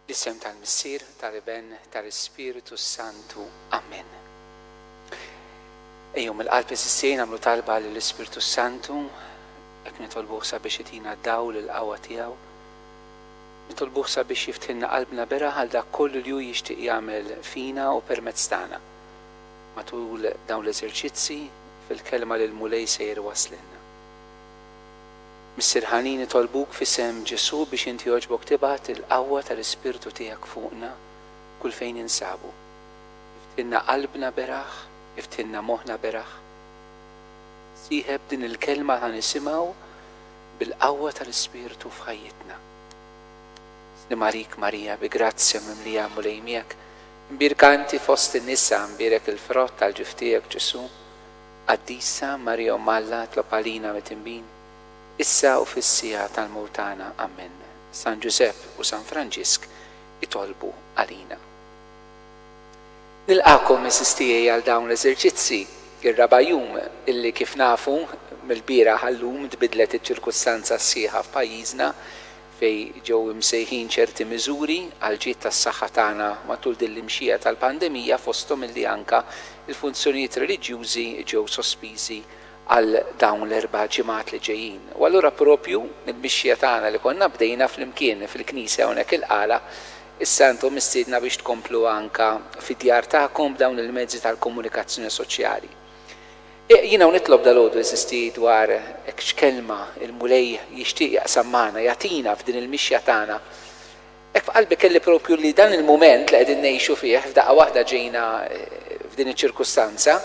Fl-isem tal-Missier, tal-Iben, tal-Ispirtu s-Santu. Amen. Ejjew mill-qalb iżissien għamlu talba lill-Ispirtu s-Santu, hekk nitolbuh sabiex itina d-dawl il-qawwa tiegħu. Nitolbuh sabiex jiftħilna qalbna bera għal dak kollu li hu jixtieq jagħmel fina u permezz tagħna. Matul dawn l-eżerċizzi fil-kelma li l-Mulej sejjer iwasslilna. Missier ħanin nitolbuk f'isem Ġesù biex int jogħġbok tibgħat il-qawwa tal-Ispirtu tiegħek fuqna kull fejn ninsabu. Iftilna qalbna beraħ, iftilna moħħna beraħ. Sieħeb din il-kelma ħa nisimgħu bil-qawwa tal-Ispirtu f'ħajjitna. Slim għalik Marija bi grazzja mimlija Mulej miegħek, imbierka inti fost in-nisa, imbierek il-frott tal-ġuf tiegħek Ġesù. Qaddisa Marija Omm Alla tlob għalina mit-Tinbin, issa u fis-siegħa tal-mewt tagħna. Ammen. San Ġużepp u San Franġisk itolbu għalina. Nilqagħkom għeżież tiegħi għal dawn l-eżerċizzi, ir-raba' jum illi kif nafu, mill-bieraħ għal-lum tbiddlet iċ-ċirkustanza s-sieħa f'pajjiżna, fejn ġew imsejħin ċerti miżuri għall-ġid tas-saħħa tagħna matul din l-imxija tal-pandemija fosthom illi anke l-funzjonijiet reliġjużi ġew sospiżi għal dawn l-erba' ġimgħat li ġejjin. U allura proprju mill-mixja tagħna li konna bdejna flimkien fil-knisja hawnhekk il-Qala, issa intom mistiedna biex tkompluha anke fid-djar tagħkom b'dawn il-mezzi tal-komunikazzjoni soċjali. Jiena u nitlob dalgħodu eżisti dwar hekk x'kelma l-Mulej jixtieq jaqsam magħna, jagħtina f'din il-mixja tagħna. Hekk f'qalbi kelli propju li dan il-mument li qegħdin ngħixu fih f'daqqa waħda ġejna f'din iċ-ċirkustanza,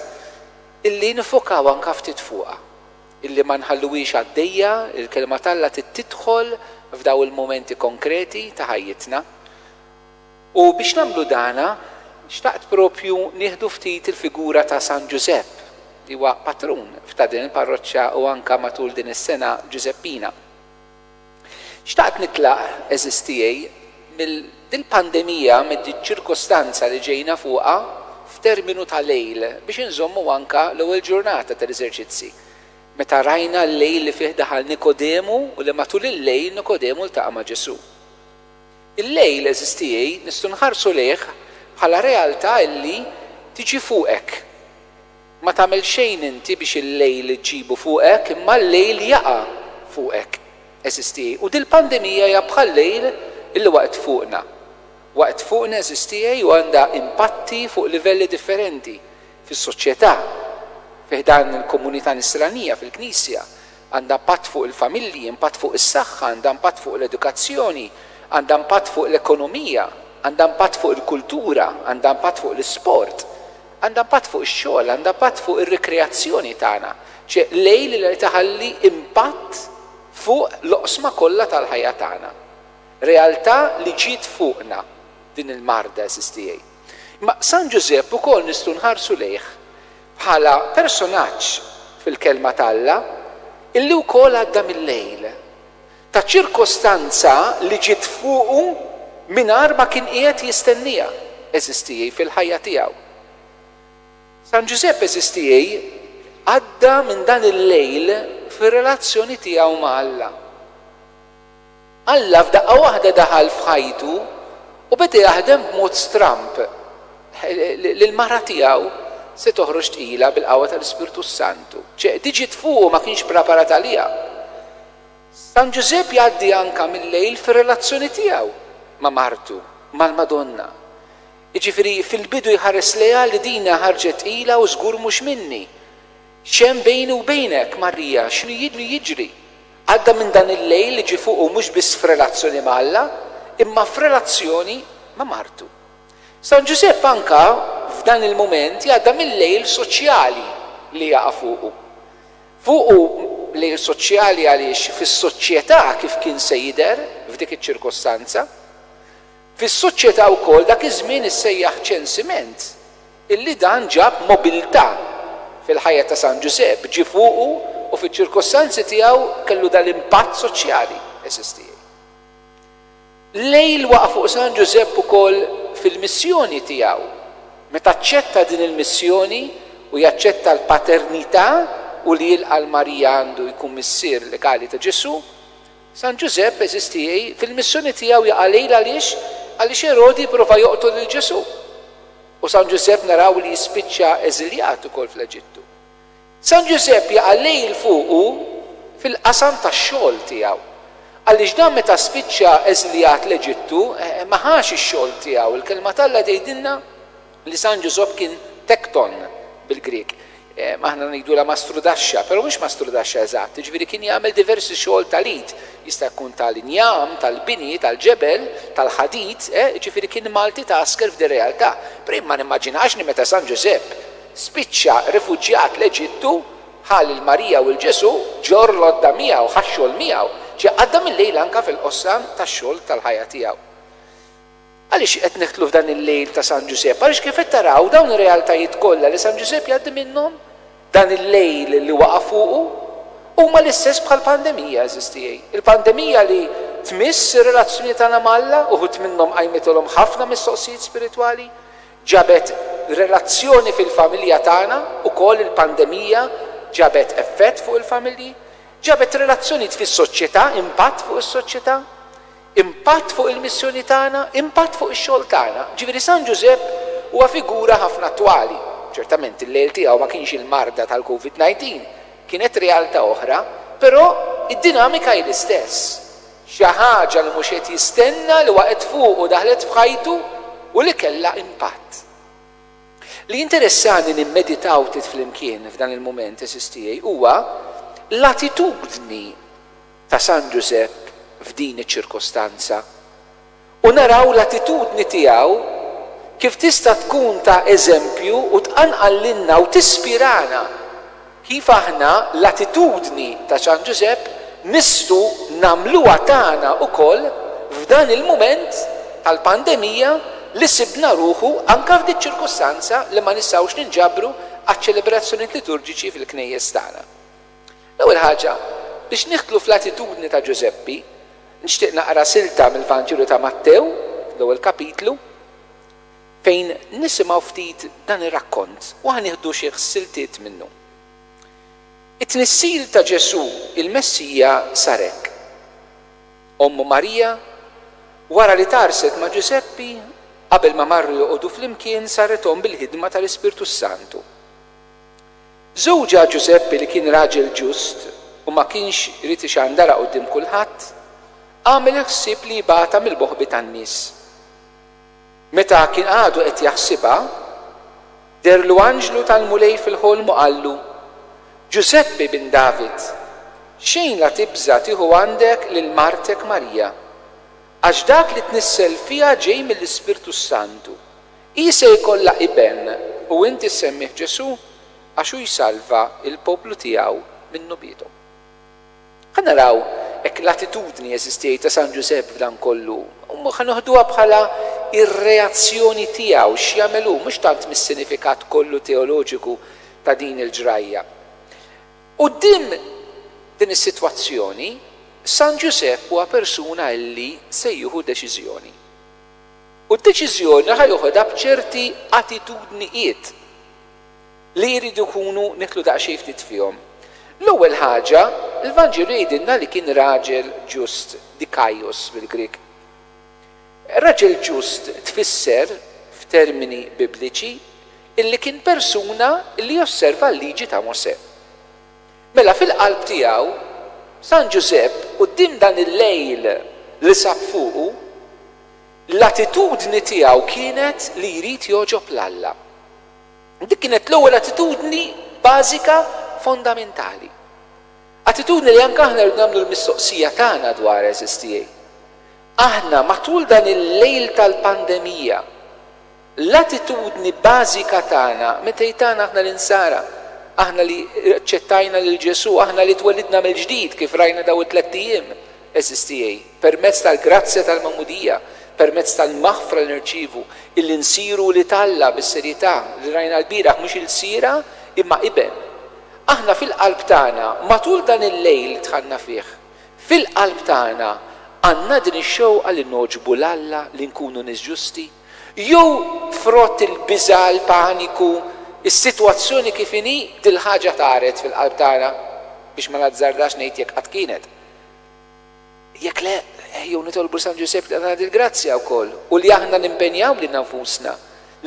illi niffokaw anka ftit fuqha. Illi ma nħalluhiex għaddejja, il-kelma t'Alla trid tidħol f'daw il-mumenti konkreti ta' ħajjitna. U biex nagħmlu dan, xtaqt proprju nieħdu ftit il-figura ta' San Ġużepp, li huwa patrun f'ta' din il-parroċċa u anke matul din is-sena Ġużeppina. Xtaqt nitlaq, għeżież tiegħi, minn dil-pandemija, minn diċ-ċirkostanza li ġejna fuqha f'terminu ta' lejl, biex inżommu anke l-ewwel ġurnata tal-Eżerċizzi, meta rajna l-lejl li fih daħal Nikodemu u li matul il-lejl Nikodemu ltaqa' ma' Ġesù. Illejl, għeżież tiegħi, nistgħu nħarsu lejh bħala realtà illi tiġi fuqek. Ma tagħmel xejn inti biex il-lejl iġġibu fuqek imma l-lejl jaqa' fuqek, għeżież tiegħi, u dil-pandemija hija bħal-lejl illi waqgħet fuqna. Waqgħet fuqna, għeżież tiegħi, u għandha impatti fuq livelli differenti, fis-soċjetà, fi ħdan il-komunità Nisranija, fil-Knisja, Għandha impatt fuq il-familji, impatt fuq is-saħħa, għandha impatt fuq l-edukazzjoni, għandha impatt fuq l-ekonomija, għandha impatt fuq il-kultura, għandha impatt fuq l-isport, għandha impatt fuq ix-xogħol, għandha impatt fuq ir-rikreazzjoni tagħna. Ċe lejl li tħalli impatt fuq l-oqsma kollha tal-ħajja tagħna. Realtà li ġiet fuqna din il-marda, għeżież tiegħi. Imma San Ġużepp ukoll nistgħu nħarsu lejh bħala personaġġ fil-Kelma t'Alla, illi wkoll għadda mil-lejl, ta' ċirkostanza li ġiet fuqu mingħajr ma kien qiegħed jistennieha, eżistieji, fil-ħajja tiegħu. San Ġużepp, eżistieji, għadda minn dan il-lejl fir-relazzjoni tiegħu ma' Alla. Alla f'daqqa waħda daħal f'ħajtu u beda jaħdem b'mod stramb li l-mara tiegħu se toħroġ tqila bil-qawwa tal-Ispirtu s-Santu. Ċe di ġiet fuqu ma kienx praparat għaliha. San Ġużepp jgħaddi anka mil-lejl fir-relazzjoni tiegħu ma' martu, mal-Madonna. Jiġifieri fil-bidu jħares lejha li dinha ħarġet tqila u żgur mhux minni. X'hemm bejni u bejnek, Marija, x'inhu jiġri? Għadda minn dan il-lejl li ġie fuqu mhux biss f'relazzjoni ma' Alla, imma f'relazzjoni ma' martu. San Ġużepp anka f'dan il-mument jgħadda mil-lejl soċjali li jaqa' fuqu. Fuqu lejl soċjali għaliex fis-soċjetà kif kien se jidher f'dik iċ-ċirkostanza? Fis-soċjetà wkoll dak iż-żmien issejjaħ ċensiment illi dan ġab mobilità fil-ħajja ta' San Ġużepp, ġie fuqu u fiċ-ċirkostanzi tiegħu kellu dal-impatt soċjali, SSTI. Lejl waqa' fuq San Ġużepp ukoll fil-missjoni tiegħu. Meta aċċetta din il-missjoni u jaċċetta l-paternità u li jilqa' 'l Marija għandu jkun missier legali ta' Ġesù, San Ġużepp eżisti hi fil-missjoni tiegħu jaqa' lejl għaliex? Għaliex Erodi jipprova joqtol lil Ġesù. U San Ġużepp naraw li jispiċċa eżiljat ukoll fl-Eġittu. San Ġużepp jaqa' lejl fuqu fil-qasam tax-xogħol tiegħu. Għaliex dan meta spiċċa eżiljat l-Eġittu ma ħax ix-xogħol tiegħu, il-Kelma t'Alla tgħidilna, Li San Ġużopp kien tekton bil-Grieg. Aħna ngħidulha mastrudaxxa, però mhux mastrudaxxa eżatt, jiġifieri kien jagħmel diversi xogħol tal-id. Jista' jkun tal-injam, tal-bini, tal-ġebel, tal-ħadid, eh, jiġifieri kien multitasker f'din realtà. Però jien ma nimmaġinax li meta San Ġużepp spiċċa rifuġjat l-Eġittu, ħa lil Marija u 'l Ġesù, ġo rlodda miegħu, ħa x-xogħol miegħu. Ġie qaddam il-lejl anke fil-qossam tax-xogħol tal-ħajja tiegħu. Għaliex qed neħtlu f'dan il-lejl ta' San Ġużepp? Għaliex kif qed taraw, dawn ir-realtajiet kollha li San Ġużepp jgħaddi minnhom, dan il-lejl li waqa' fuqu, huma l-istess bħall-pandemija, għeżież tiegħi. Il-pandemija li tmiss ir-relazzjoni tagħna ma' Alla, uħud minnhom qajmitilhom ħafna mistoqsijiet spiritwali, ġabet relazzjoni fil-familja tagħna, ukoll il-pandemija ġabet effett fuq il-familji, ġabet relazzjonijiet fis-soċjetà, impatt fuq is-soċjetà. Impatt fuq il-missjoni tagħna, impatt fuq ix-xogħol tagħna. Jiġifieri San Ġużepp huwa figura ħafna attwali. Ċertament il-lejl tiegħu ma kienx il-marda tal-Covid 19, kienet realtà oħra, però id-dinamika hi l-istess. Xi ħaġa li mhux qed jistenna li waqgħet fuqu, daħlet f'ħajtu u li kellha impatt. Li jinteressani nimmeditaw ftit flimkien f'dan il-mument, għeżież tiegħi, huwa l-attitudni, ta' San Ġużepp f'din iċ-ċirkostanza u naraw l-attitudni tiegħu kif tista' tkun ta' eżempju u tqanqal lilna u tispirana kif aħna l-attitudni ta' San Ġużepp nistgħu nagħmluha tagħna wkoll f'dan il-mument tal-pandemija li sibna ruħu anke f'diċ-ċirkostanza li ma nistgħux ninġabru għaċ-ċelebrazzjonijiet liturġiċi fil-knejjes tagħna. L-ewwel ħaġa, biex nidħlu fl-attitudni ta' Ġużeppi, nixtieq naqra silta mill-Vanġelu ta' Mattew, l-ewwel kapitlu, fejn nisimgħu ftit dan ir-rakkont u ħa nieħdu xi siltiet minnu. It-tnissil ta' Ġesù, il-Messija, sar hekk. Ommu Marija, wara li tgħarrset ma' Ġużeppi, qabel ma marru joqogħdu flimkien, sarret omm bil-ħidma tal-Ispirtu s-Santu. Żewġha Ġużeppi li kien raġel ġust u ma kienx ried ixandarha quddiem kulħadd, għamel il-ħsieb li jibgħatha mill-moħbi tan-nies. Meta kien għadu qed jaħsibha, dehrlu anġlu tal-Mulej fil-ħolm u qallu, Ġużeppi ibn David, xejn la tibża' tieħu għandek lil martek Marija, għax dak li tnissel fiha ġej mill-Ispirtu s-Santu, Hi se jkollha iben, u int issemmih Ġesù, għax hu jsalva l-poplu tiegħu min-nubietom. Ħa naraw hekk l-attitudni, għeżież tiegħi, ta' San Ġużepp f'dan kollu, ħa noħduha bħala r-reazzjoni tiegħu, x'jagħmel hu, mhux tant mis-sinifikat kollu teoloġiku ta' din il-ġrajja. Quddiem din is-sitwazzjoni, San Ġużepp huwa persuna illi se jieħu deċiżjoni. u d-deċiżjoni ħa joħodha b'ċerti attitudnijiet li jridu jkunu nidħlu daqsxejn ftit fihom. L-ewwel ħaġa, l-Vanġelu jgħidilna li kien raġel ġust, dikaios bil-Grieg. Raġel ġust tfisser, f'termini Bibliċi, illi kien persuna li josserva l-Liġi ta' Mosè. Mela fil-qalb tiegħu, San Ġużepp, quddiem dan il-lejl li sab fuqu, L-attitudni tiegħu kienet li jrid jogħġob 'l Alla. Dik kienet l-ewwel attitudni bażika fondamentali. Attitudni li anke aħna rridu nagħmlu l-mistoqsija tagħna dwarha, għeżież tiegħi. Aħna, matul dan il-lejl tal-pandemija, L-attitudni bażika tagħna, meta jtagħna aħna l-insara, aħna li aċċettajna lil Ġesù, aħna li twellidna mill-ġdid, kif rajna dawn it-tlett ijiem, għeżież tiegħi, permezz tal-grazzja tal-magħmudija, permezz tal-maħfra li nirċievu, illi nsiru wlied Alla bis-serjetà li rajna lbieraħ, mhux ilsiera, imma iben. Aħna fil-qalb tagħna, matul dan il-lejl li dħalna fih, fil-qalb tagħna għandna din ix-xewqa li nogħġbu 'l Alla, li nkunu nies ġusti, Jew frott il-biża', il-paniku, is-sitwazzjoni kif inhi, dil-ħaġa tagħred fil-qalb tagħna? Biex ma nazzardax ngħid jekk qatt kienet. Jekk le, ejjew nitolbu 'l San Ġużepp li jagħtina dil-grazzja wkoll u li aħna nimpenjaw lilna nfusna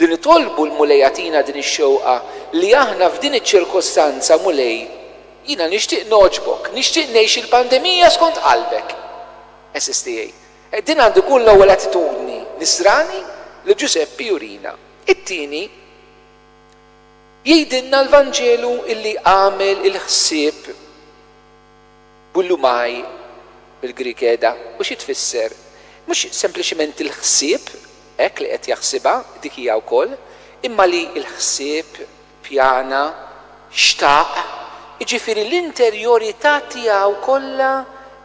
li nitolbu 'l Mulej jagħtina din ix-xewqa li aħna f'din iċ-ċirkostanza, Mulej, jiena nixtieq nogħġbok, nixtieq ngħix il-pandemija skont qalbek. Eżisti, ej, E din għandu jkun l-ewwel attitudni Nisrani li Ġużeppi jurina. It-tieni, jgħidilna l-Vanġelu illi għamel il-ħsieb boulomai, bil-Grieg qiegħda, u xi tfisser? Mhux sempliċement il-ħsieb, hekk li qed jaħsibha, dik hija wkoll, imma li l-ħsieb, Pjana, xtaq, jiġifieri l-interjorità tiegħu kollha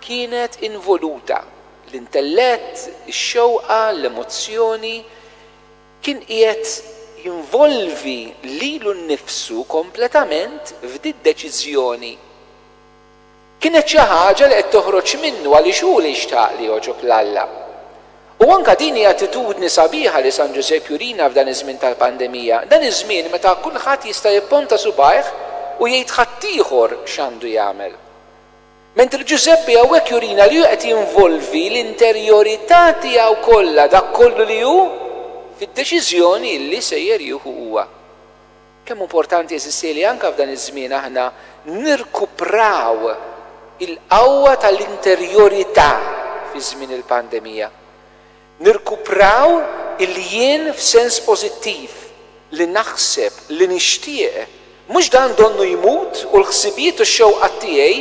kienet involuta, l-intellett, ix-xewqa, l-emozzjoni, kien qiegħed jinvolvi lilu nnifsu kompletament f'di d-deċiżjoni. Kienet xi ħaġa li qed toħroġ minnu għaliex hu li xtaq li jogħġob 'l Alla. U anke din hi attitudni sabiħa li San Ġużepp jurina f'dan iż-żmien tal-pandemija, dan iż-żmien meta kulħadd jista' jipponta subgħajh u jgħid ħaddieħor x'għandu jagħmel. Mentri Ġużeppi hawnhekk jurina li hu qed jinvolvi l-interjorità tiegħu kollha, dak kollu li hu, fid-deċiżjoni li sejjer jieħu huwa. Kemm hu importanti, għeżieżi, li anke f'dan iż-żmien aħna nirkupraw il-qawwa tal-interjorità fi żmien il-pandemija. Nirkupraw il-jien f'sens pożittiv, li naħseb, li nixtieq. Mhux dan donnu jmut u l-ħsibijiet u x-xewqat tiegħi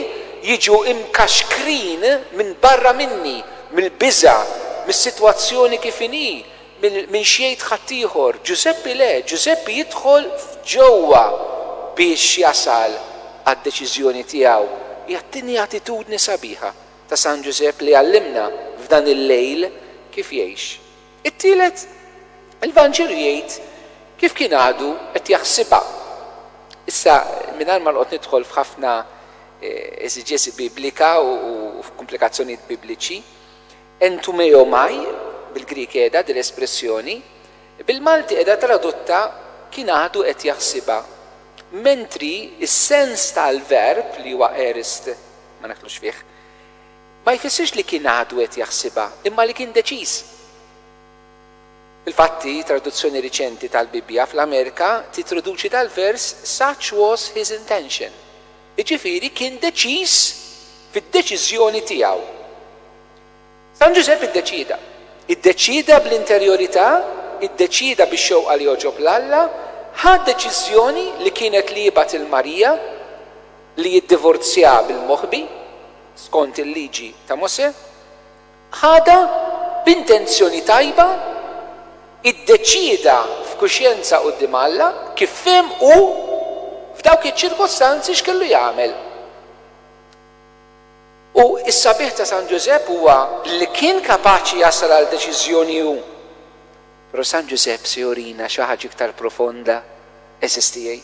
jiġu mkaxkrin minn barra minni, mill-biża', mis-sitwazzjoni kif inhi, Min, min x'jgħid ħaddieħor? Ġużeppi le, Ġużeppi jidħol f'ġewwa biex jasal għad-deċiżjoni tiegħu. Hija t-tieni attitudni sabiħa ta' San Ġużepp li jgħallimna f'dan il-lejl kif jgħix. It-tielet, il-Vanġelu jgħid kif kien għadu qed jaħsibha. Issa, mingħajr ma noqgħod nidħol f'ħafna eżiġesi biblika u f'kumplikazzjonijiet bibliċi, Entumeomai, bil-Grieg qiegħda din l-espressjoni, bil-Malti qiegħda tradotta kien għadu qed jaħsibha, mentri s-sens tal-verb, li huwa aorist, ma nidħlux fih, ma jfissirx li kien għadu qed jaħsibha, imma li kien deċiż. Fil-fatt hi traduzzjoni riċenti tal-Bibbja fl-Amerika titroduċi dal-vers such was his intention. Jiġifieri kien deċiż fid-deċiżjoni tiegħu. San Ġużepp iddeċieda. Iddeċieda bl-interjorità, iddeċieda bix-xewqa li jogħġob 'l Alla, ħa deċiżjoni li kienet li jibgħat 'il Marija, li jiddivorzjaha bil-moħbi, skont il-Liġi ta' Mosè. ħadha b'intenzjoni tajba, iddeċieda f'kuxjenza quddiem Alla kif fehem hu f'dawk iċ-ċirkostanzi x'kellu jagħmel. U s-sabiħ ta' San Ġużepp huwa li kien kapaċi jasal għal deċiżjoni hu. Però San Ġużepp se jurina xi ħaġa iktar profonda, għeżież tiegħi.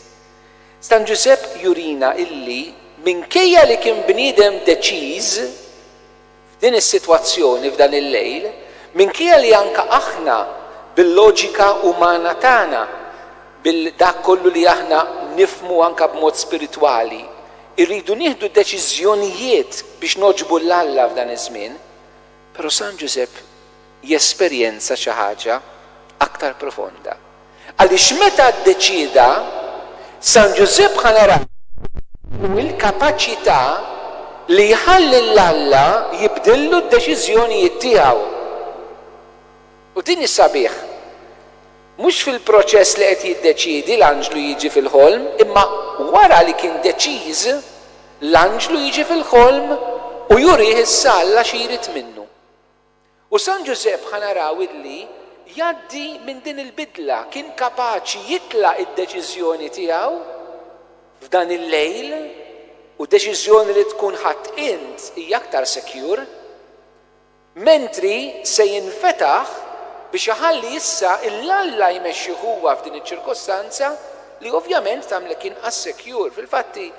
San Ġużepp jurina illi minkejja li kien bniedem deċiż, F'din is-sitwazzjoni, f'dan il-lejl, minkejja li anke aħna bil-loġika umana tagħna, bil dak kollu li aħna nifhmu anke b'mod spiritwali, irridu nieħdu deċiżjonijiet biex nogħġbu 'l Alla f'dan iż-żmien, però San Ġużepp jesperjenza xi ħaġa aktar profonda. Għaliex meta ddeċieda, San Ġużepp ħa naraw f'qalbu l-kapaċità li jħalli 'l Alla jibdillu d-deċiżjonijiet tiegħu. U din hi sabiħ. Mhux fil-proċess li qed jiddeċiedi l-anġlu jiġi fil-ħolm, imma wara li kien deċiż, l-anġlu jiġi fil-ħolm u jurih issa Alla xi jrid minnu. U San Ġużepp ħa naraw illi jgħaddi minn din il-bidla, kien kapaċi jitlaq id-deċiżjoni tiegħu f'dan il-lejl u deċiżjoni li tkun ħadt int hija aktar secure, mentri se jinfetaħ biex iħalli issa il Alla jmexxih huwa f'din iċ-ċirkostanza li ovvjament tagħmlek inqas secure. Fil-fatt hi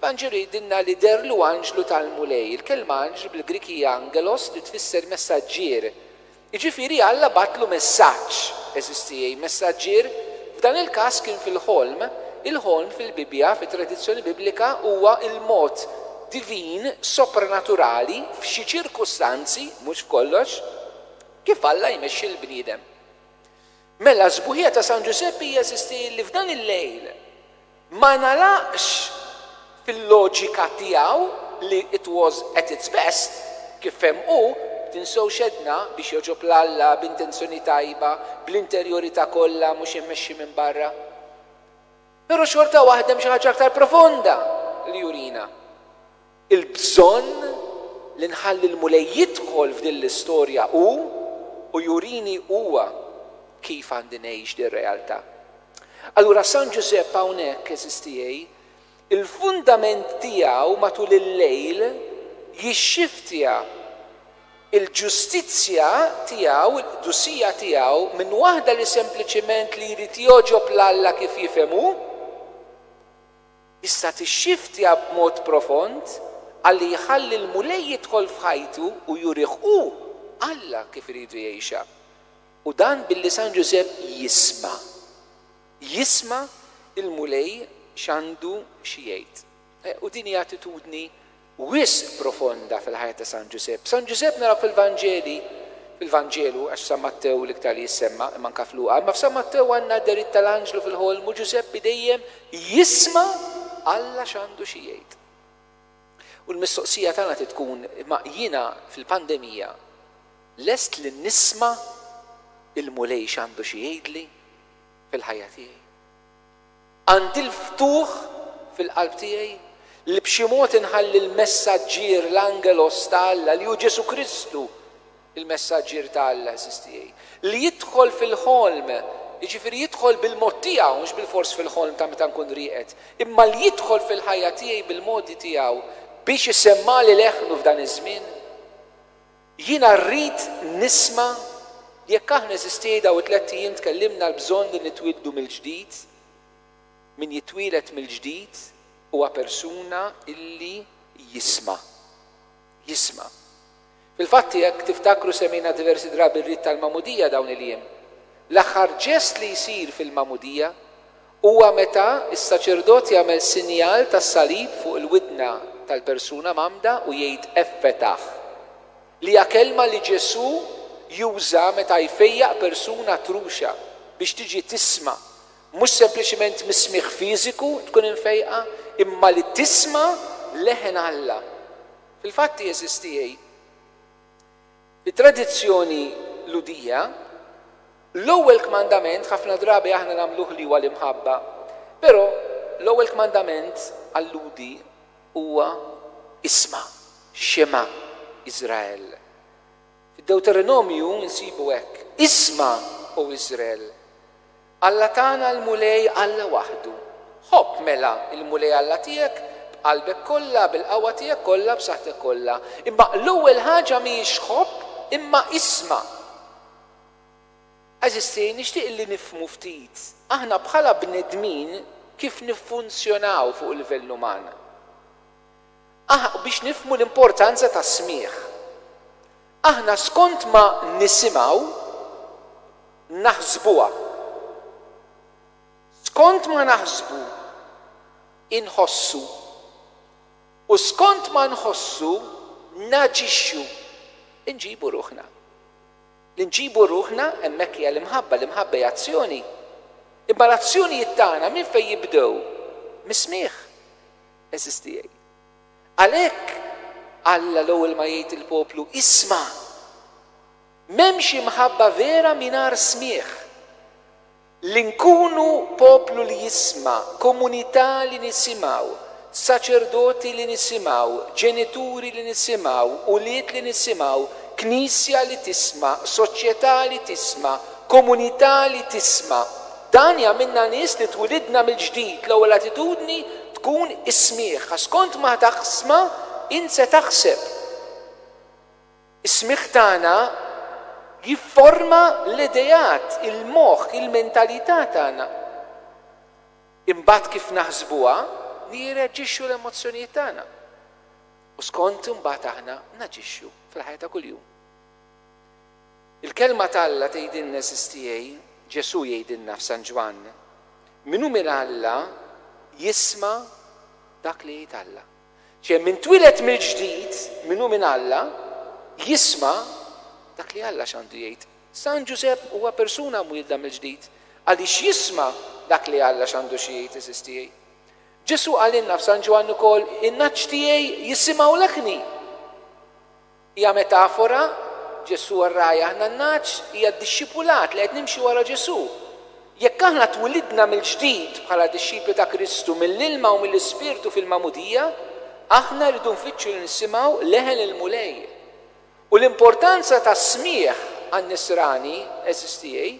L-anġel jgħidilna li dehrlu anġlu tal-Mulej. Il-kelma anġlu bil-Grieg hija angelos li tfisser messaġġier. Jiġifieri Alla bagħatlu messaġġ. Għeżież tiegħi, messaġġier f'dan il-każ kien fil-ħolm. Il-ħolm fil-Bibbja, fit-tradizzjoni Biblika, huwa l-mod divin, sopranaturali, f'xi ċirkustanzi, mhux f'kollox, kif Alla jmexxi lill-bniedem. Mela s-sbuħija ta' San Ġużeppi jeżisti li f'dan il-lejl ma ngħalaqx fil-loġika tiegħu li it was at its best, kif fehem hu, tinsewx għedna, biex jogħġob 'l Alla, b'intenzjoni tajba, bl-interjorità kollha mhux immexxi minn barra. Però xorta waħda hemm xi ħaġa aktar profonda li jurina. Il-bżonn li nħalli l-Mulej jidħol f'din l-istorja u u jurini Huwa kif għandi ngħix din realtà. Allura San Ġużepp hawnhekk, għeżież tiegħi, il-fundament tiegħu matul il-lejl jixxiftja l-ġustizzja tiegħu, il-qdusija tiegħu minn waħda li sempliċiment li jrid jogħġob 'l Alla kif jifhem hu, Tista' tixxiftja b'mod profond ħalli jħalli l-Mulej jidħol f'ħajtu u jurih hu, Alla, kif iridu jgħixha. U dan billi San Ġużepp jisma'. Jisma' l-Mulej x'għandu xi jgħid. U din hi attitudni wisq profonda fil-ħajja ta' San Ġużepp. San Ġużepp naraw fil-Vanġeli, fil-Vanġelu, għax f'San Mattew l-iktar li jissemma, imma anke f'Luqa, imma f'San Mattew għandna d-dehriet tal-anġlu fil-ħolm u Ġużeppi dejjem jisma' Alla x'għandu xi jgħid. U l-mistoqsija tagħna trid tkun, imma jiena fil-pandemija lest li nisma' il-Mulej x'għandu xi jgħidli fil-ħajja tiegħi? Għandi l-ftuħ fil-qalb tiegħi li b'xi mod inħalli l-messaġġier, l-angelos ta' Alla, li hu Ġesù Kristu, il-messaġġier ta' Alla, għeżież tiegħi, li jidħol fil-ħolm, jiġifieri jidħol bil-mod tiegħu, mhux bilfors fil-ħolm ta' meta nkun rieqed, imma li jidħol fil-ħajja tiegħi bil-modi tiegħu biex isemmagħli leħnu f'dan iż-żmien. Jiena rrid nisma' jekk aħna, għeżież tiegħi, dawn it-tlett ijiem tkellimna l-bżonn li nitwieldu mill-ġdid. Min jitwieled mill-ġdid huwa persuna li jisma'. Jisma'. Fil-fatt, jekk tiftakru semgħina diversi drabi r-rit tal-magħmudija dawn il-jiem. L-aħħar ġest li jsir fil-magħmudija Huwa meta s-saċerdot jagħmel sinjal tas-salib fuq il-widna tal-persuna mgħammda u jgħid Effetah, li hija kelma li Ġesù juża meta jfejjaq persuna truxa biex tiġi tisma', mhux sempliċement mis-smigħ fiżiku tkun imfejqa, imma li tisma' leħen Alla. Fil-fatt jeżisti It-tradizzjoni Lhudija, L-ewwel kmandament ħafna drabi aħna nagħmluh li huwa l-imħabba, però l-ewwel kmandament għal-Lhudi huwa isma', shema' Israel. Fid-Dewteronomju nsibu hekk, Isma', O Iżrel! Alla tagħna l-Mulej Alla waħdu. Ħobb, mela, il-Mulej Alla tiegħek b'qalbek kollha, bil-qawwa tiegħek kollha, b'saħħtek kollha. Imma l-ewwel ħaġa mhijiex ħobb, imma isma'. Għeżieżti, nixtieq illi nifhmu ftit, aħna bħala bnedmin kif niffunzjonaw fuq il-livell uman. Aħ biex nifhmu l-importanza tas-smigħ. Aħna skont ma nisimgħu naħsbuha. Skont ma naħsbu inħossu. U skont ma nħossu naġixxu. Inġibu ruħna. Li nġibu ruħna hemmhekk hija l-imħabba, l-imħabba hija azzjoni. Imma l-azzjonijiet tagħna minn fejn jibdew? Mis-smigħ. Għeżież tiegħi. Għalhekk Alla l-ewwel ma jgħid lill-poplu, Isma'! M'hemmx imħabba vera mingħajr smigħ. Li nkunu poplu li jisma', komunità li nisimgħu, saċerdoti li nisimgħu, ġenituri li nisimgħu, ulied li nisimgħu, Knisja li tisma', soċjetà li tisma', komunità li tisma'. Dan jagħmilna nies li twilidna mill-ġdid. L-ewwel attitudni tkun is-smigħ. Għax skont ma taħsma int se taħseb. Is-smigħ tagħna jifforma l-ideat, il-moħħ, il-mentalità tagħna. Imbagħad kif naħsbuha li jirreaġixxu l-emozzjonijiet tagħna. U skont imbagħad aħna naġixxu fil-ħajja ta' kuljum. Il-Kelma t'Alla tgħidilna SSTA, Ġesù jgħidilna f'San Ġwann, Min hu minn Alla jisma' dak li jgħid Alla. Ċe min twieled mill-ġdid, min hu minn Alla, jisma' dak li Alla x'għandu jgħid. San Ġużepp huwa persuna mwielda mill-ġdid għaliex jisma' dak li Alla x'għandu xi jgħid SSTA. Ġesù qalilna f'San Ġwann ukoll, In-ngħaġ tiegħi jisimgħu leħni. Hija metafora, Ġesù r-ragħaj aħna n-nagħaġ, hija d-dixxipulat li qed nimxi wara Ġesù. Jekk aħna twilidna mill-ġdid bħala dixxipli ta' Kristu mill-ilma u mill-Ispirtu fil-magħmudija, aħna rridu nfittxu li nisimgħu leħen il-Mulej. U l-importanza tas-smigħ għan-nisrani, għeżież tiegħi,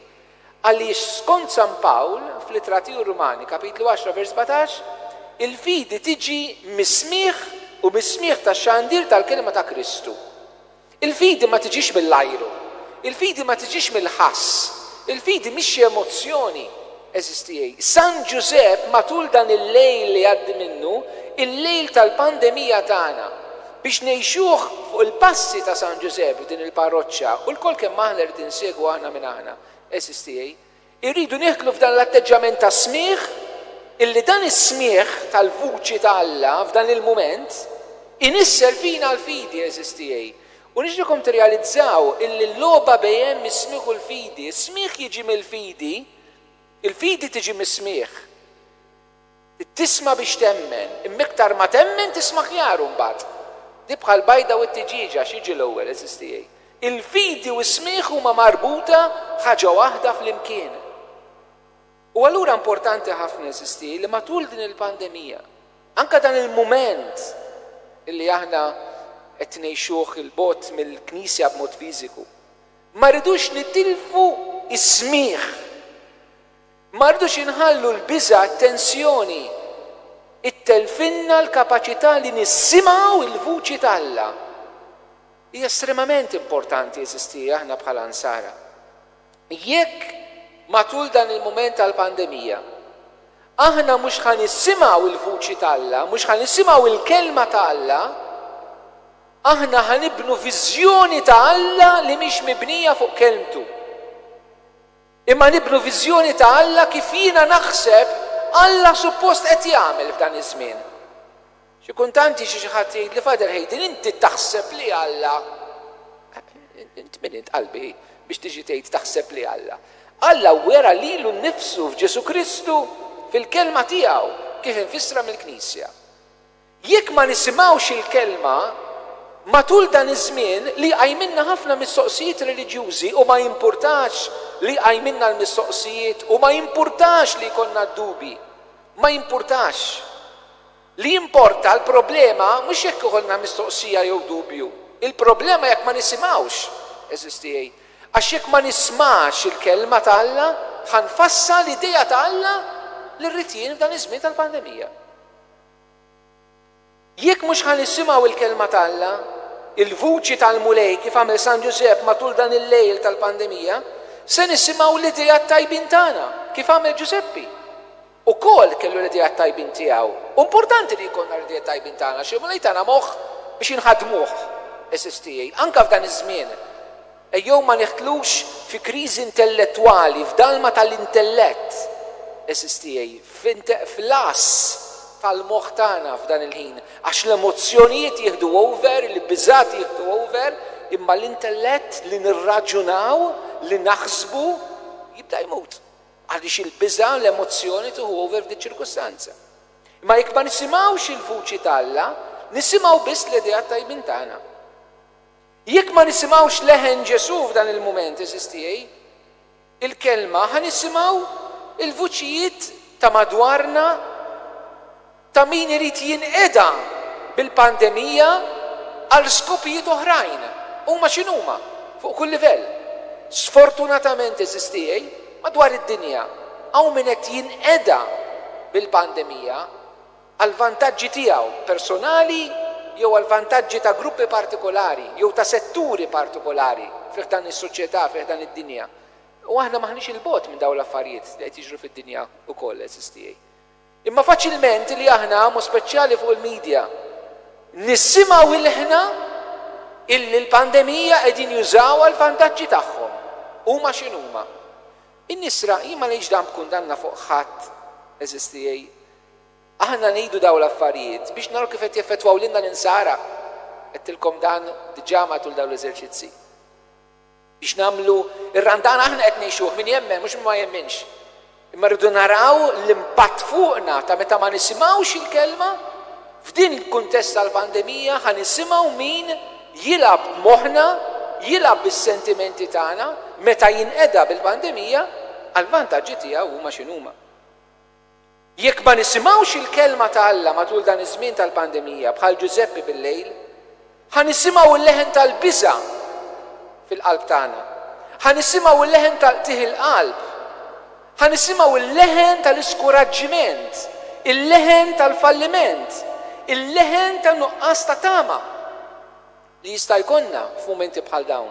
Għaliex skont San Pawl, fl-Ittra tiegħu Rumani, kapitlu għaxra vers sbatax, il-fidi tiġi mis-smigħ u mis-smigħ tax-xandir tal-kelma ta' Kristu. Il-fidi ma tiġix mill-ajru. Il-fidi ma tiġix mill-ħass. Il-fidi mhix xi emozzjoni. Għeżież tiegħi, San Ġużepp matul dan il-lejl li jgħaddi minnu, il-lejl tal-pandemija tagħna, Biex ngħixuh fuq il-passi ta' San Ġużepp f'din il-parroċċa u lkoll kemm aħna rrid insegwu aħna minn aħna, għeżież tiegħi, irridu nidħlu f'dan l-atteġġjament ta' smigħ illi dan is-smigħ tal-vuċi ta' Alla f'dan il-mument inissel fina l-fidi, għeżież tiegħi. U nixtieqkom tirrealizzaw illi l-logħba bejn is-smigħ u l-fidi, is-smigħ jiġi mill-fidi, il-fidi tiġi mis-smigħ. Tisma' biex temmen, imma iktar ma temmen tisma' aħjar imbagħad. Di bħall-bajda u t-tiġieġa, x'jiġi l-ewwel, għeżież tiegħi? Il-fidi u s-smigħ huma marbuta f'ħaġa waħda flimkien. U allura importanti ħafna, għeżież tiegħi, li matul din il-pandemija, anke dan il-mument li aħna qed ngħixuh 'il bogħod mill-Knisja b'mod fiżiku, ma rridux nitilfu s-smigħ. Ma rridux inħallu l-biża', t-tensjoni, ittelfilna l-kapaċità li nissimaw il-vuċi t'Alla. Hija estremament importanti, għeżiżtiegħi, aħna bħala Nsara. Jekk, matul dan il-mument tal-pandemija, aħna mhux ħa nissimaw il-vuċi t'Alla, mhux ħa nissimaw il-Kelma ta' Alla, aħna ħa nibnu viżjoni ta' Alla li mhix mibnija fuq Kelmtu. Imma nibnu viżjoni ta' Alla kif jiena naħseb Alla suppost qed jagħmel f'dan iż-żmien. Xi kuntant jiġi xi ħadd jgħidli, Father Hayden, inti taħseb li Alla. Int min int, qalbi, biex tiġi tgħid taħseb li Alla? Alla wera lilu nnifsu f'Ġesù Kristu, fil-Kelma tiegħu, kif imfissra mill-Knisja. Jekk ma nisimgħux il-Kelma, matul dan iż-żmien li jqajmilna ħafna mistoqsijiet reliġjużi u ma jimpurtax li jqajmilna l-mistoqsijiet u ma jimpurtax li jkollna d-dubji, ma jimpurtax. Li jimporta l-problema mhux jekk ikollna mistoqsija jew dubju, il-problema jekk ma nisimgħux, għeżież tiegħi, għax jekk ma nismax il-Kelma ta' Alla, ħa nfassal idea ta' Alla li rrid jien f'dan iż-żmien tal-pandemija. Jekk mhux ħa nisimgħu l-Kelma t'Alla, il-vuċi tal-Mulej kif għamel San Ġużepp matul dan il-lejl tal-pandemija, se nisimgħu l-ideat tajbin tagħna, kif għamel Ġużeppi. Ukoll kellu l-ideat tajbin tiegħu. Hu importanti li jkollna l-ideat tajbin tagħna għax il-Mulej tana moħħ biex inħaddmuh, għeżież tiegħi, anke f'dan iż-żmien. Ejjew ma nidħlux fi kriżi intellettwali, f'dalma tal-intellett, għeżież tiegħi, f'lass tal-moħħ tagħna f'dan il-ħin, għax l-emozzjonijiet jieħdu over, il-biżgħat jieħdu over, imma l-intellett, li nirraġunaw, li naħsbu, jibda jmut, għaliex il-biża' u l-emozzjoni tieħu over f'di ċ-ċirkustanza. Imma jekk ma nisimgħux il-vuċi t'Alla, nisimgħu biss l-ideat tajbin tagħna. Jekk ma nisimgħux leħen Ġesù f'dan il-mument, għeżież tiegħi, il-Kelma, ħa nisimgħu l-vuċijiet ta' madwarna ta' min irid jinqeda bil-pandemija għal skopijiet oħrajn, huma x'inhuma, fuq kull livell. Sfortunatament, għeżież tiegħi, madwar id-dinja hawn min qed jinqeda bil-pandemija. għall-vantaġġi tiegħu personali jew għall-vantaġġi ta' gruppi partikolari jew ta' setturi partikolari fi ħdan is-soċjetà, fi ħdan id-dinja. U aħna m'aħniex 'il bogħod minn dawn l-affarijiet li qed jiġru fid-dinja wkoll, għeżież tiegħi. Imma faċilment li aħna, mod speċjali fuq il-midja, nissimgħu ilħna illi l-pandemija qegħdin jużawha għall-vantaġġi tagħhom, huma x'inhuma. In-nisra, jien ma ngħidx dan b'kundanna fuq ħadd, għeżież tiegħi, Aħna ngħidu dawn l-affarijiet biex naraw kif qed jeffettwaw lilna l-Insara. Għedtilkom dan diġà matul dawn l-eżerċizzi. Biex nagħmlu r-Randan aħna qed ngħixuh, min jemmen, mhux min ma jemminx. Imma rridu naraw l-impatt fuqna ta' meta ma nisimgħux il-Kelma. F'din il-kuntest tal-pandemija ħa nisimgħu min jilgħab b'moħħna, jilgħab bis-sentimenti tagħna meta jinqeda bil-pandemija għall-vantaġġi tiegħu huma x'inhuma. Jekk ma nisimgħux il-Kelma ta' Alla matul dan iż-żmien tal-pandemija bħal Ġużeppi bil-lejl, ħa nisimgħu l-leħen tal-biża' fil-qalb tagħna. Ħa nisimgħu l-leħen ta' qtigħ il-qalb. Ħa nisimgħu l-leħen tal-iskuraġġiment, il-leħen tal-falliment, il-leħen ta' nuqqas ta' tama li jista' jkollna f'mumenti bħal dawn.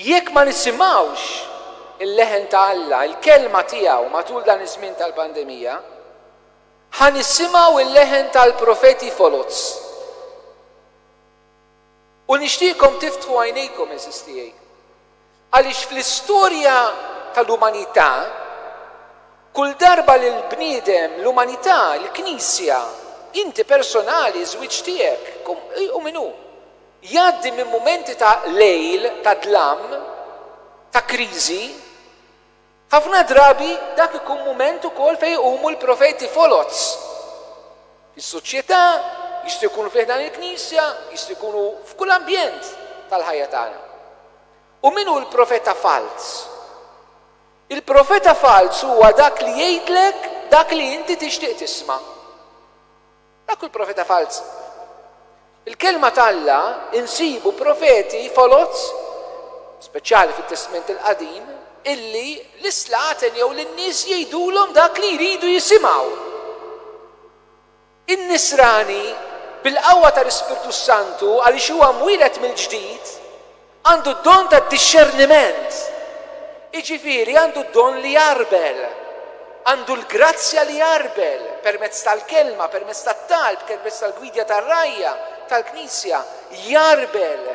Jekk ma nisimgħux il-leħen ta' Alla, il-Kelma tiegħu matul dan iż-żmien tal-pandemija, ħa nisimgħu l-leħen tal-profeti foloz. U nixtieqkom tiftħu għajnejkom, għeżież tiegħi, għaliex fl-istorja tal-umanità, kull darba li l-bniedem, l-umanità, il-Knisja, inti personali, iż-żwieġ tiegħek, hu min hu, Jgħaddi minn mumenti ta' lejl ta' dlam, ta' kriżi. Ħafna drabi dak ikun mument ukoll fejn iqumu l-profeti foloz fis-soċjetà, jistgħu jkunu fi ħdan il-Knisja, jistgħu jkunu f'kull ambjent tal-ħajja tagħna. U min hu l-profeta falz? Il-profeta falz huwa dak li jgħidlek dak li inti tixtieq tisma'. Hekk kull profeta falz. Il-Kelma t'Alla insibu profeti foloz, speċjali fit-Testment il-Qadim, illi l-islaten jew lin-nies jgħidulhom dak li jridu jisimgħu. In-Nisrani, bil-qawwa tal-Ispirtu s-Santu, għaliex huwa mwieled mill-ġdid, Għandu d-don tad-dixxerniment, jiġifieri għandu d-don li jgħarbel, għandu l-grazzja li jgħarbel permezz tal-kelma, permezz tat-talb, permezz tal-gwidja tar-rgħajja tal-Knisja, jgħarbel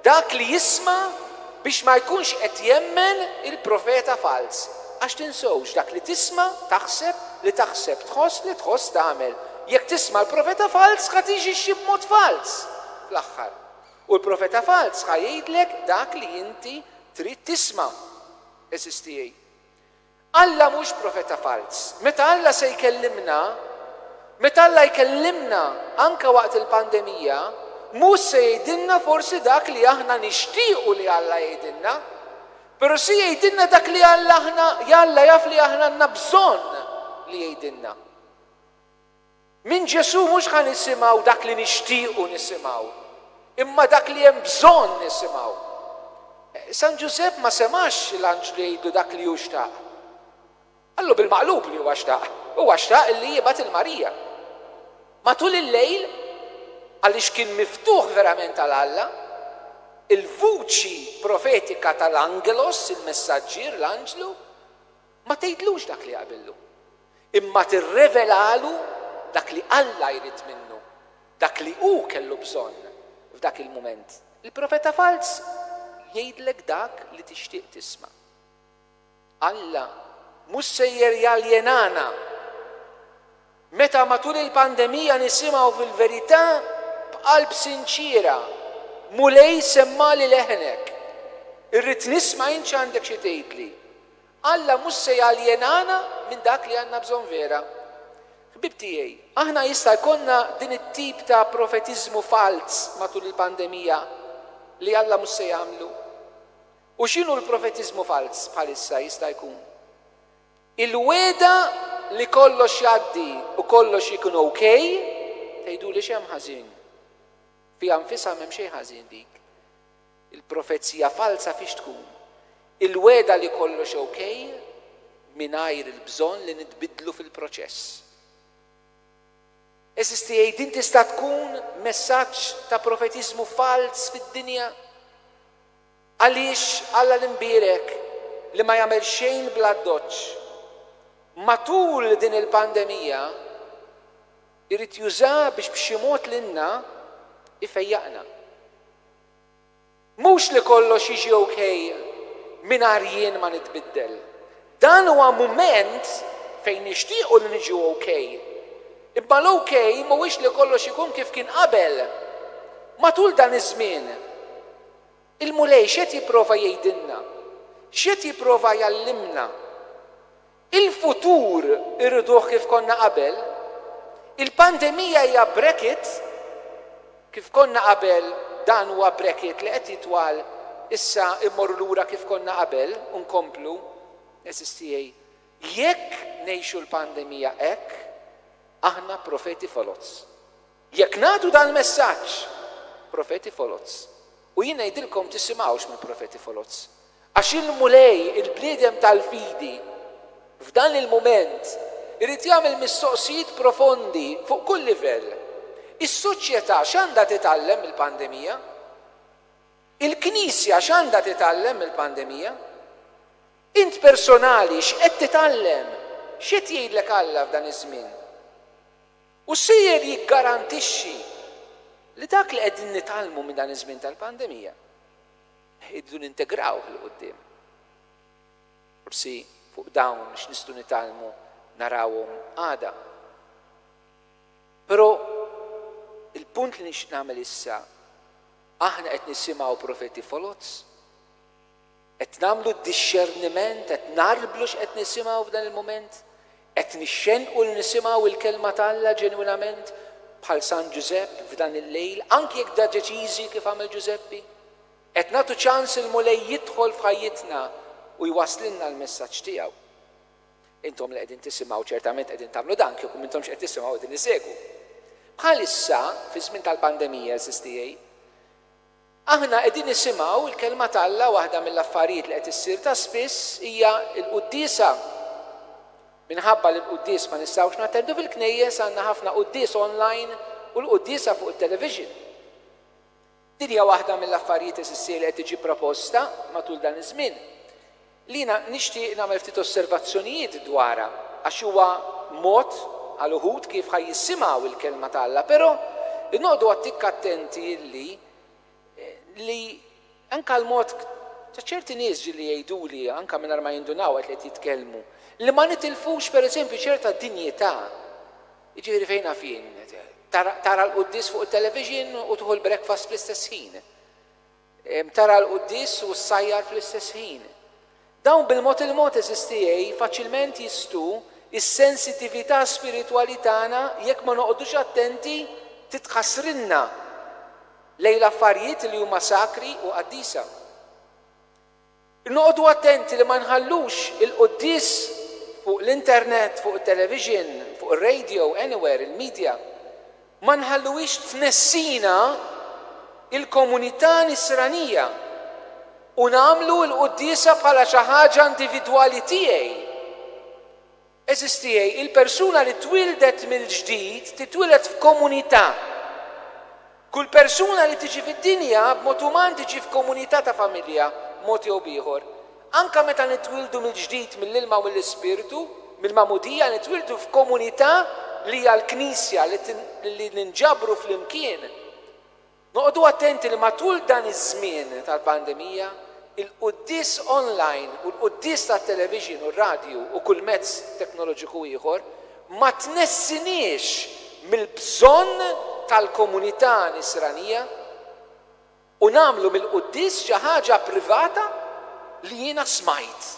dak li jisma' biex ma jkunx qed jemmen il-profeta falz. Għax tinsewx, dak li tisma' taħseb, li taħseb tħoss, li tħoss tagħmel. Jekk tisma' l-profeta falz ħa tiġixxi b'mod falz fl-aħħar. U l-profeta falz ħa jgħidlek dak li inti trid tisma', għeżież tiegħi. Alla mhux profeta falz. Meta Alla se jkellimna, meta Alla jkellimna anke waqt il-pandemija, mhux se jgħidilna forsi dak li aħna nixtiequ li Alla jgħidilna, però se jgħidilna dak li Alla aħna Alla jaf li aħna għandna bżonn li jgħidilna. Minn Ġesù mhux ħa nisimgħu dak li nixtiequ nisimgħu, imma dak li hemm bżonn nisimgħu. San Ġużepp ma semax l-anġlu jgħidlu dak li hu xtaq. Qallu bil-maqlub li huwa xtaq, huwa xtaq illi jibgħat 'il Marija. Matul il-lejl, għaliex kien miftuħ verament għal Alla, il-vuċi profetika tal-angelos, il-messaġġier, l-anġlu, ma tgħidlux dak li jaqbillu. imma tirrevelalu dak li Alla jrid minnu, dak li hu kellu bżonn f'dak il-mument. Il-profeta falz jgħidlek dak li tixtieq tisma'. Alla mhux sejjer jaljenana. Meta matul il-pandemija nisimgħu fil-verità b'qalb sinċiera, Mulej semmali leħnek. Irrid nisma' int x'għandek xi tgħidli. Alla mhux se jaljenana minn dak li għandna bżonn vera. Ħbieb tiegħi, aħna jista' jkollna din it-tip ta' profetiżmu falz matul il-pandemija li Alla mhux se jagħmlu. U x'inhu l-profetiżmu falz bħalissa jista' jkun? Il-wegħda li kollox jgħaddi u kollox ikun ok, tgħiduli x'hemm ħażin? Fiha nfisha m'hemm xejn ħażin dik. Il-profezija falza fiex tkun? Il-wegħda li kollox ok mingħajr il-bżonn li nitbiddlu fil-proċess. Għeżież tiegħi din tista' tkun messaġġ ta' profetiżmu falz fid-dinja? Għaliex Alla l-Imbierek li ma jagħmel xejn bl-addoċċ matul din il-pandemija jrid juża biex b'xi mod lilna jfejjaqna? Mhux li kollox jiġi ok mingħajr jien ma nitbiddel. Dan huwa mument fejn nixtiequ li niġu ok. Imma l-ok mhuwiex li kollox ikun kif kien qabel. Matul dan iż-żmien, il-Mulej x'qed jipprova jgħidilna? X'qed jipprova jgħallimna? Il-futur irriduh kif konna qabel, il-pandemija hija brekit kif konna qabel dan huwa brekit li qed jitwal issa immorru lura kif konna qabel u nkomplu għeżież tiegħi jekk ngħixu l-pandemija hekk aħna profeti foloz. Jekk nagħtu dal-messaġġ, profeti foloz, u jien ngħidilkom tisimgħux mill-profeti foloz. Għax il-Mulej, il-bniedem tal-fidi, f'dan il-mument, irid jagħmel mistoqsijiet profondi fuq kull livell. Is-soċjetà x'għandha titgħallem mill-pandemija? Il-Knisja x'għandha titgħallem mill-pandemija? Int personali x'qed titgħallem? X'qed jgħidlek Alla f'dan iż-żmien? U sejjer jiggarantixxi li dak li qegħdin nitgħallmu minn dan iż-żmien tal-pandemija rridu nintegrawh 'il quddiem. Forsi fuq dawn x'nistgħu nitgħallmu narawhom għada. Però il-punt li nixtieq nagħmel issa, aħna qed nisimgħu profeti foloz. Qed nagħmlu d-dixxerniment, qed ngħarblu x'qed nisimgħu f'dan il-mument? Qed nixxennqu li nisimgħu l-Kelma ta' Alla ġenwinament bħal San Ġużepp f'dan il-lejl, anki jekk dajeċiżi kif għamel Ġużeppi? Qed nagħtu ċans il-Mulej jidħol f'ħajjitna u jwasslilna l-messaġġ tiegħu? Intom li qegħdin tisimgħu ċertament qegħdin tagħmlu dan, kieku m'intomx qed tisimgħu qegħdin issegwu. Bħalissa, fiż-żmien tal-pandemija, għeżież tiegħi, Aħna qegħdin nisimgħu l-Kelma t'Alla, waħda mill-affarijiet li qed issir ta' spiss hija l-quddiesa. Minħabba li l-quddies ma nistgħux nattendu fil-knejjes, għandna ħafna quddies online u l-quddiesa fuq it-television. Din hija waħda mill-affarijiet, għeżiż siegħi, li qed tiġi proposta matul dan iż-żmien. li jiena nixtieq nagħmel ftit osservazzjonijiet dwarha, għax huwa mod għal uħud kif ħa jissimgħu l-Kelma ta' Alla, però noqogħdu għattikk attenti li li anke l-mod ta' ċerti nies ġieli jgħiduli, anke mingħajr ma jindunaw waqt li qed jitkellmu, li ma nitilfux pereżempju ċerta dinjità, jiġifieri fejn naf jien, tara l-quddies fuq it-television u tieħu l-breakfast fl-istess ħin. Tara l-quddies u ssajjar fl-istess ħin. Dawn bil-mod il-mod, għeżież tiegħi, faċilment jistgħu s-sensitività spiritwali tagħna, jekk ma noqogħdux attenti, titħassrilna lejn l-affarijiet li huma sakri u qaddisa. Noqogħdu attenti li ma nħallux il-quddies fuq l-internet, fuq it-televixin, fuq ir-radio, anywhere, il-midja, ma nħalluhiex tnessina l-komunità nisranija u nagħmlu l-quddiesa bħala xi ħaġa individwali tiegħi. Għeżież tiegħi, il-persuna li twieldet mill-ġdid titwieled f'komunità. Kull persuna li tiġi fid-dinja b'mod uman tiġi f'komunità ta' familja, b'mod jew b'ieħor. Anke meta nitwieldu mill-ġdid mill-ilma u mill-Ispirtu, mill-magħmudija, nitwieldu f'komunità li hija l-Knisja li ninġabru flimkien. Noqogħdu attenti li matul dan iż-żmien tal-pandemija, il-quddies onlajn u l-quddies tat-television u r-radju u kull mezz teknoloġiku ieħor ma tnessiniex mill-bżonn tal-komunità nisranija u nagħmlu mill-quddies xi ħaġa privata li jiena smajt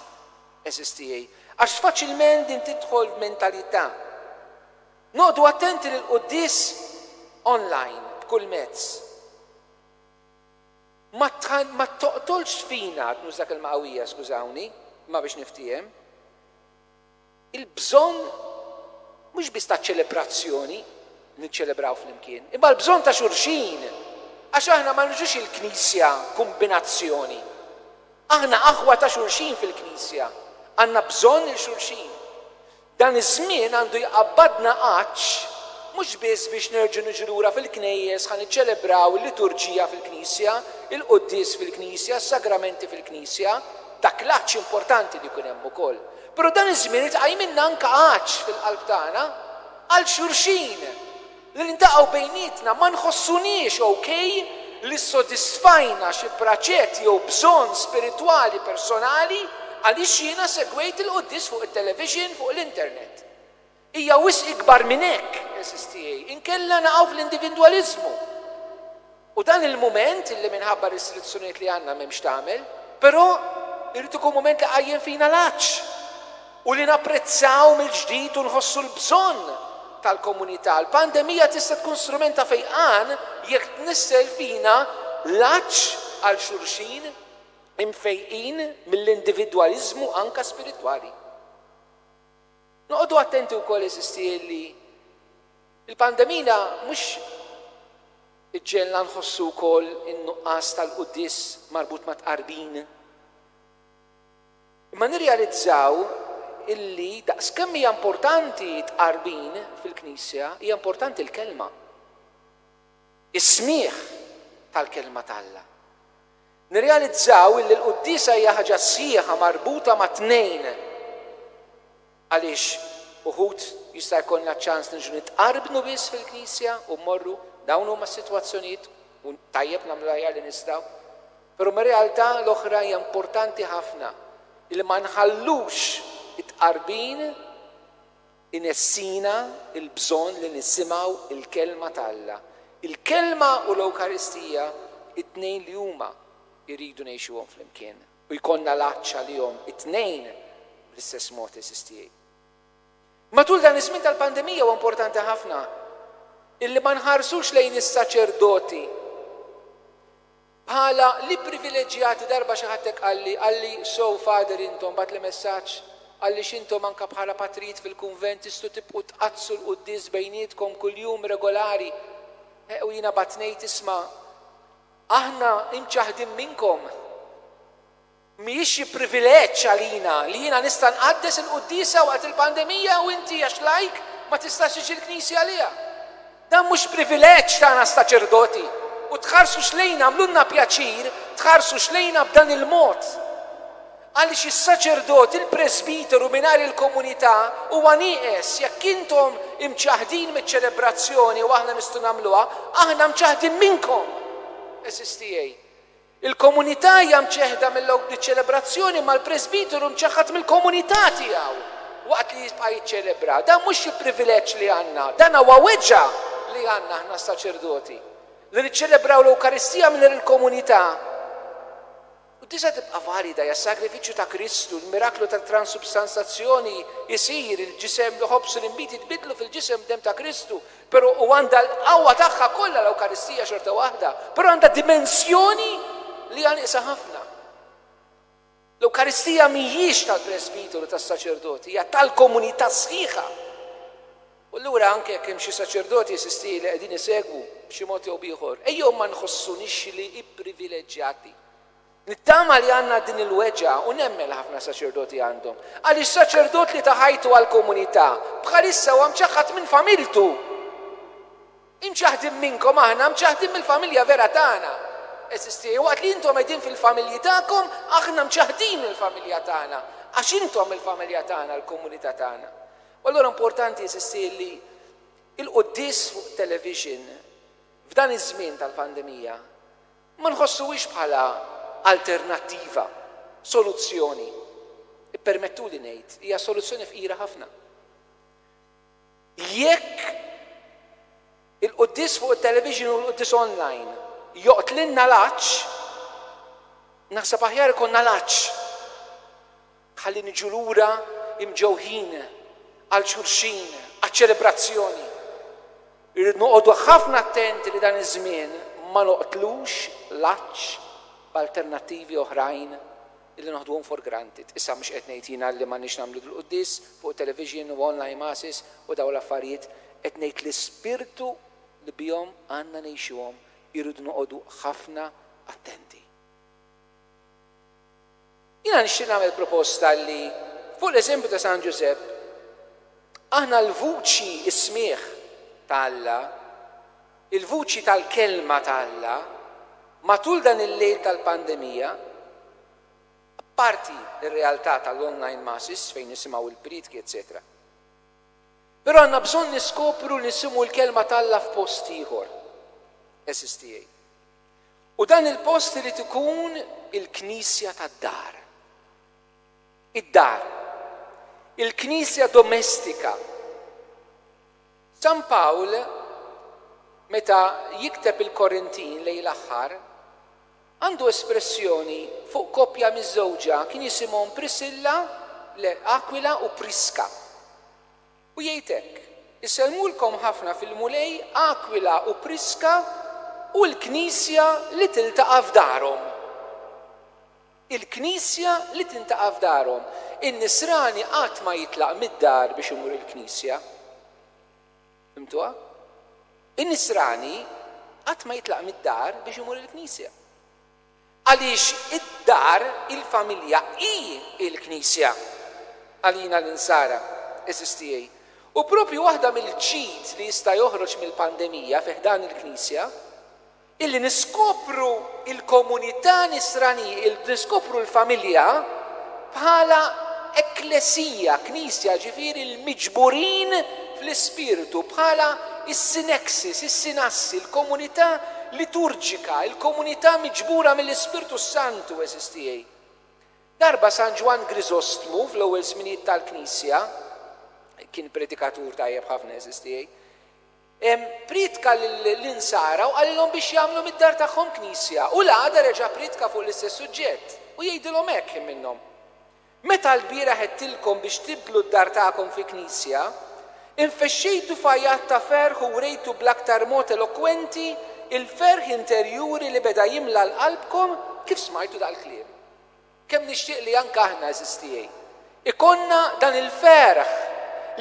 eżistiej. Għax faċilment din tidħol f'mentalità. Noqogħdu attenti li l-quddies online b'kull mezz ma toqtolx fina, qed nuża kelma qawwija skużawni, imma biex niftiehem, il-bżonn mhux biss ta' ċelebrazzjoni li niċċelebraw flimkien, imma l-bżonn ta' xulxin, għax aħna ma niġux il-Knisja kumbinazzjoni. Aħna aħwa ta' xulxin fil-Knisja, għandna bżonn lil xulxin. Dan iż-żmien għandu jqabbadna għatx mhux biss biex nerġgħu niġu lura fil-knejjes ħa niċċelebraw il-liturġija fil-knisja, il-quddies fil-knisja, is-sagramenti fil-knisja, dak l-għatx importanti li jkun hemm ukoll, però dan iż-żmien irid iqajjmilna anke għatx fil-qalb tagħna għal xulxin. Li niltaqgħu bejnietna ma nħossuniex ok li ssodisfajna xi praċet jew bżonn spiritwali personali għaliex jiena segwejt il-quddies fuq it-televixin fuq l-internet. Hija wisq ikbar minn hekk, għeżież tiegħi, inkella naqgħu fl-indivindwaliżmu. U dan il-mument, li minħabba r-restrizzjonijiet li għandna m'hemm x'tagħmel, però jrid ikun mument li jqajjem fina l-għatx u li napprezzaw mill-ġdid u nħossu l-bżonn tal-komunità. Il-pandemija tista' tkun strument ta' fejqan jekk tnissel fina l-għatx għal xulxin, imfejqin mill-individwaliżmu anke spiritwali. Noqogħdu attenti wkoll, għeżiż tiegħi, li Il-pandemija mhux iġġegħelna nħossu wkoll in-nuqqas tal-quddies marbut mat-tqarbin? Imma nirrealizzaw illi daqskemm hija importanti t-tqarbin fil-Knisja, hija importanti l-Kelma, is-smigħ tal-Kelma t'Alla. Nirrealizzaw illi l-quddiesa hija ħaġa sħiħa marbuta ma' tnejn. Għaliex uħud jista' jkollna ċ-ċans niġu nitqarbnu biss fil-Knisja u mmorru, dawn huma s-sitwazzjonijiet u tajjeb nagħmlu l-aħjar li nistgħu. Però mir-realtà l-oħra hija importanti ħafna li ma nħallux it-tqarbin inessina l-bżonn li nisimgħu l-Kelma ta' Alla. Il-Kelma u l-Ewkaristija t-tnejn li huma jridu ngħixuhom flimkien. u jkollna l-għatx għalihom it-tnejn bl-istess mod eżisti. Matul dan iż-żmien tal-pandemija huwa importanti ħafna illi ma nħarsux lejn is-saċerdoti bħala l-ipprivileġġjati darba xi ħadd hekk qalli, qalli so Father intom bagħtli messaġġ għaliex intom anke bħala patrijiet fil-kunvent tistgħu tibqgħu tqaddsu l-quddies bejnietkom kuljum regolari. Eh, u jiena batnejt isma' Aħna imċaħħdin minnkom. Mhijiex xi privileġġ għalina li jiena nista' nqaddes il-quddiesa waqt il-pandemija u inti, għax lajk, ma tistax tiġi l-knisja għaliha. Dan mhux privileġġ tagħna saċerdoti u tħarsux lejna, għamlulna pjaċir tħarsu xlejna b'dan il-mod. Għaliex is-saċerdot, il-presbiteru mingħajr il-komunità huwa nieqes? Jekk intom imċaħħdin miċ-ċelebrazzjoni, u aħna nistgħu nagħmluha, aħna mċaħħdin minnkom, għeżież tiegħi. Il-komunità hija mċeħħda mill-ċelebrazzjoni, imma l-presbiteru mċaħħad mill-komunità tiegħu waqt li jibqa' jiċċelebra. Dan mhux xi privileġġ li għandna, dan huwa weġgħa li għandna aħna s-saċerdoti, li niċċelebraw l-Ewkaristija mingħajr il-komunità. U tista' tibqa' valida hija s-sagrifiċċju ta' Kristu, l-miraklu tat-transubstanzazzjoni, isir il-ġisem, l-ħobż u l-inbid jitbiddlu fil-ġisem u d-demm ta' Kristu, però u għandha l-qawwa tagħha kollha l-Ewkaristija xorta waħda, però għandha dimensjoni li hija nieqsa ħafna. L-Ewkaristija mhijiex tal-presbiteru, tas-saċerdot, hija tal-komunità sħiħa. U allura anke jekk hemm xi saċerdoti, eżisti, li qegħdin isegwu b'xi mod jew b'ieħor, ejjew ma nħossunix li ipprivileġġjati. Nittama li għandna din il-weġgħa u nemmen li ħafna saċerdoti għandhom. Għaliex saċerdot li ta ħajtu għall-komunità, bħalissa huwa mċaħħad minn familtu. Imċaħħdin minnkom aħna, mċaħħdin mill-familja vera tagħna. Eżisti, waqt li intom qegħdin fil-familji tagħkom, aħna mċaħħdin mill-familja tagħna, għax intom il-familja tagħna, l-komunità tagħna. U allura importanti, eżisti, li l-quddies fuq television, f'dan iż-żmien tal-pandemija, ma nħossuhiex bħala alternattiva, soluzzjoni. Ippermettuli ngħid, hija soluzzjoni fqira ħafna. Jekk. Il-quddies fuq it-television u l-quddies online joqtlilna l-għatx? Naħseb aħjar ikollna l-għatx ħalli niġu lura imġewħin għal xulxin, għaċ-ċelebrazzjoni. Irridu noqogħdu ħafna attenti li dan iż-żmien ma noqtlux l-għatx b'alternattivi oħrajn illi noħduhom for granted. Issa mhux qed ngħid jiena li m'għandniex nagħmlu dil-quddies fuq it-television u online masses u dawn l-affarijiet, qed ngħid l-ispirtu li bihom għandna ngħixuhom irridu noqogħdu ħafna attenti. Jiena nixtieq nagħmel proposta li fuq l-eżempju ta' San Ġużepp aħna l-vuċi is-smigħ ta' Alla Il-vuċi tal-Kelma ta' Alla matul dan il-lejl tal-pandemija, apparti r-realtà tal-online masses fejn nisimgħu l-prietki eċċetera. Però għandna bżonn niskopru li nsimgħu l-Kelma ta' Alla f'post ieħor, għeżież tiegħi. U dan il-post irid ikun il-knisja tad-dar. Id-dar. Il-knisja domestika. San Pawl meta jikteb il-Korintin lejn l-aħħar, għandu espressjoni fuq koppja miżżewġa, kien jisimhom Prisilla, le, Akwila u Priska. U jgħid hekk, Isellmulkom ħafna fil-Mulej Akwila u Priska u l-Knisja li tiltaqa' f'darhom. il-Knisja li tintaqa' f'darhom. In-Nisrani qatt ma jitlaq mid-dar biex imur il-Knisja. Fhimtuha? In-Nisrani qatt ma jitlaq mid-dar biex imur il-Knisja. Għaliex id-dar, il-familja, hi l-Knisja għalina l-Insara, għeżież tiegħi. U proprju waħda mill-ġid li jista' joħroġ mill-pandemija fi ħdan il-Knisja Illi niskopru l-komunità nisrani, illi niskopru l-familja bħala ekklesia, knisja, jiġifieri l-miġburin fl-Ispirtu, bħala s-syneksis, is-synassi, l-komunità liturġika, il-komunità miġbura mill-Ispirtu s-Santu, għeżież tiegħi. Darba San Ġwann Griżostmu, fl-ewwel żminijiet tal-Knisja, kien predikatur tajjeb ħafna, għeżież tiegħi, Prietka lill-Insara u qalilhom biex jagħmlu mid-dar tagħhom knisja, u l-għada reġa' prietka fuq l-istess suġġett, u jgħidilhom hekk, Ħin minnhom. Meta lbieraħ għedtilkom biex tibdlu d-dar tagħkom fi knisja, infexxejtu f'għajat ta' ferħ u wrejtu bl-aktar mod elokwenti l-ferħ interjuri li beda jimla l-qalbkom kif smajtu dal-kliem. Kemm nixtieq li anke aħna, għeżież tiegħi, ikollna dan il-ferħ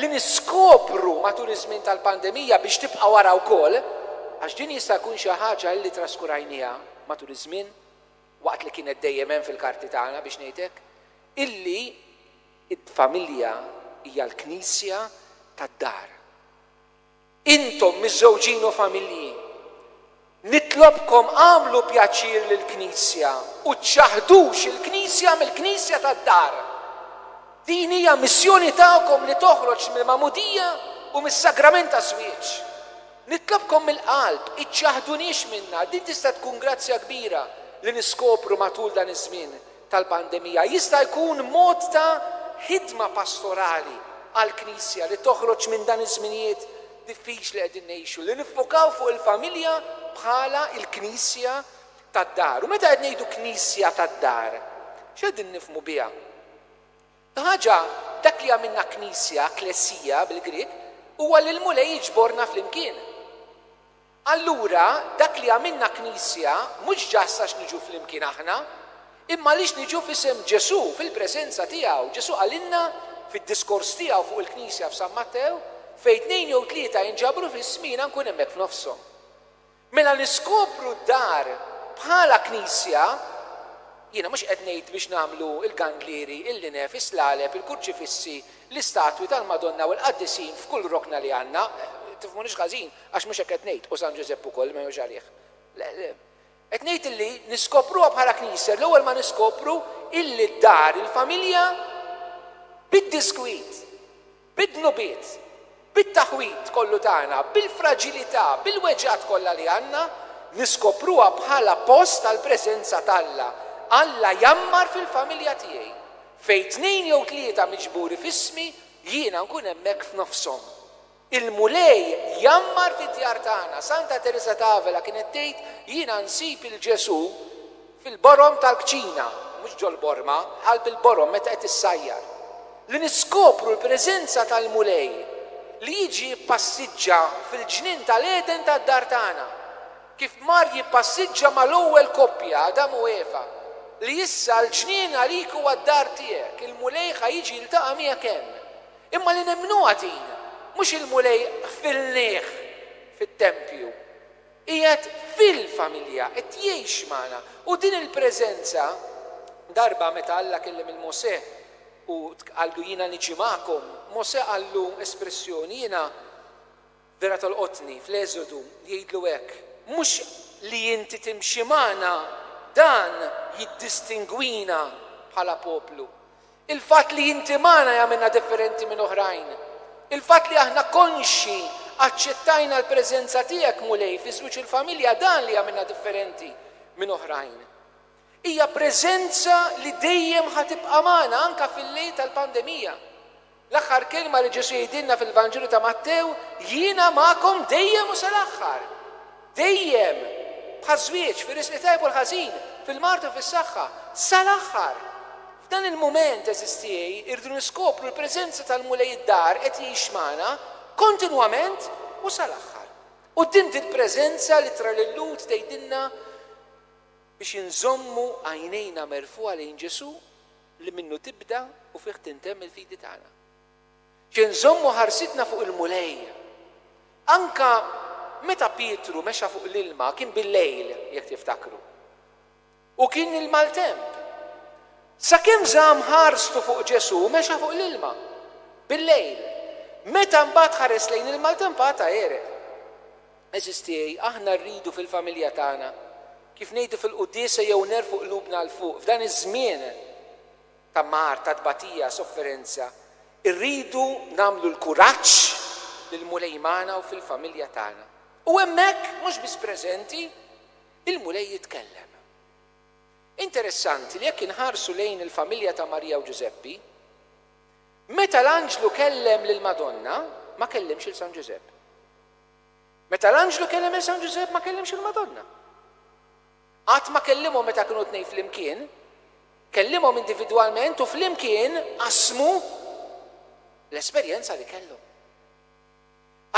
li niskopru matul iż-żmien tal-pandemija biex tibqa' wara wkoll, għax din jista' jkun xi ħaġa illi traskurajniha matul iż-żmien, waqt li kienet dejjem hemm fil-karti tagħna biex ngħid hekk, illi d-familja hija l-knisja tad-dar. Intom miżżewġin u familji, nitlobkom agħmlu pjaċir lill-Knisja u ċċaħdux il-Knisja mill-Knisja tad-dar. Din hija missjoni tagħkom li toħroġ mill-magħmudija u mis-sagrament taż-żwieġ. Nitlobkom mill-qalb, iċċaħduniex minnha, din tista' tkun grazzja kbira li niskopru matul dan iż-żmien. tal-pandemija jista' jkun mod ta' ħidma pastorali għall-Knisja li toħroġ minn dan iż-żminijiet diffiċli li qegħdin ngħixu, li niffokaw fuq il-familja bħala l-knisja tad-dar. U meta qed ngħidu knisja tad-dar, x'qegħdin nifhmu biha? Il-ħaġa, dak li jagħmilna knisja, klesia bil-Grieg, huwa li l-Mulej jiġborna flimkien. Allura, dak li għamilna Knisja mhux ġast għax niġu flimkien aħna, imma għaliex niġu f'isem Ġesù, fil-preżenza tiegħu. Ġesù qalilna fid-diskors tiegħu fuq il-Knisja f'San Mattew, Fejn tnejn jew tlieta jinġabru f'ismi, jiena nkun hemmhekk f'nofshom. Mela niskopru d-dar bħala Knisja, jiena mhux qed ngħid biex nagħmlu l-gandlieri, il-linef, is-slaleb, il-kurċifissi, l-istatwi tal-Madonna u l-qaddisin f'kull rokna li għandna, tifhmunix ħażin, Għax mhux hekk qed ngħid, u San Ġużepp ukoll, li ma jgħinux għalih. Le, le. Qed ngħid illi niskopruha bħala Knisja l-ewwel ma niskopru illi d-dar, il-familja, bid-diskwit, bid-dnubiet, bit-taħwid kollu tagħna, bil-fraġilità, bil-weġgħat kollha li għandna, niskopruha bħala post għall-preżenza t'Alla. Alla jgħammar fil-familja tiegħi. Fejn tnejn jew tlieta miġburi f'ismi, jiena nkun hemmhekk f'nofshom. Il-Mulej jgħammar fid-djar tagħna. Santa Tereża t'Avela kienet tgħid, Jiena nsib 'il Ġesù fil-borom tal-kċina, mhux ġol-borma, bħal bil-borom meta qed issajjar. Li niskopru l-preżenza tal-Mulej li jiġi jippassiġġa fil-ġnien tal-Għeden tad-dar tagħna, kif mar jippassiġġa mal-ewwel koppja, Adam u Eva, li issa l-ġnien għalik huwa d-dar tiegħek, il-Mulej ħa jiġi jiltaqa' miegħek hemm. Imma li nemmnuha din, mhux il-Mulej qfilnieh fit-tempju. Qiegħed fil-familja, qed jgħix magħna. U din il-preżenza, darba meta Alla kellem lil Mosè u qallu jiena niġi magħkom, Mosè qallu espressjoni jiena Vera tolqotni, fl-Eżodu, li jgħidlu hekk, Mhux li inti timxi magħna, dan jiddistingwina bħala poplu. Il-fatt li inti magħna jagħmilna differenti minn oħrajn. Il-fatt li aħna konxji aċċettajna l-preżenza tiegħek, Mulej, fiż-żwieġ u l-familja, dan li jagħmilna differenti minn oħrajn. Hija preżenza li dejjem ħa tibqa' magħna anke fil-lejl tal-pandemija. L-aħħar kelma li Ġesù jgħidilna fil-Vanġelu ta' Mattew, Jiena magħkom dejjem u sal-aħħar. Dejjem! Bħaż-żwieġ, fir-riżq it-tajb u l-ħażin, fil-mard u fis-saħħa. Sal-aħħar! F'dan il-mument, għeżież tiegħi, irridu niskopru l-preżenza tal-Mulej id-dar qed jgħix magħna, kontinwament u sal-aħħar. Quddiem dil-preżenza l-Ittra lil-Lhud tgħidilna, biex inżommu għajnejna merfugħa lejn Ġesù li minnu tibda u fih tintemm il-fidi tagħna. Xi nżommu ħarsitna fuq il-Mulej. Anke meta Pietru mexa fuq l-ilma kien bil-lejl, jekk tiftakru. U kien il-maltemp. Sakemm żamm ħarstu fuq Ġesù mexa fuq l-ilma, bil-lejl. Meta mbagħad ħares lejn il-maltemp għad ta' għereq. Għeżież tiegħi, aħna rridu fil-familja tagħna, kif ngħidu fil-quddiesa jew nerfgħu qlubna 'l fuq, f'dan iż-żmien ta' mard, ta' tbatija, sofferenza, irridu nagħmlu l-kuraġġ li l-Mulej magħna u fil-familja tagħna. U hemmhekk, mhux biss preżenti, il-Mulej jitkellem. Interessanti li jekk inħarsu lejn il-familja ta' Marija u Ġużeppi, meta l-anġlu kellem lill-Madonna, ma kellimx 'il San Ġużepp. Meta l-anġlu kellem lil San Ġużepp ma kellimx il-Madonna. Qatt ma kellimhom meta kienu t-tnejn flimkien. Kellimhom individwalment u flimkien qasmu l-esperjenza li kellhom.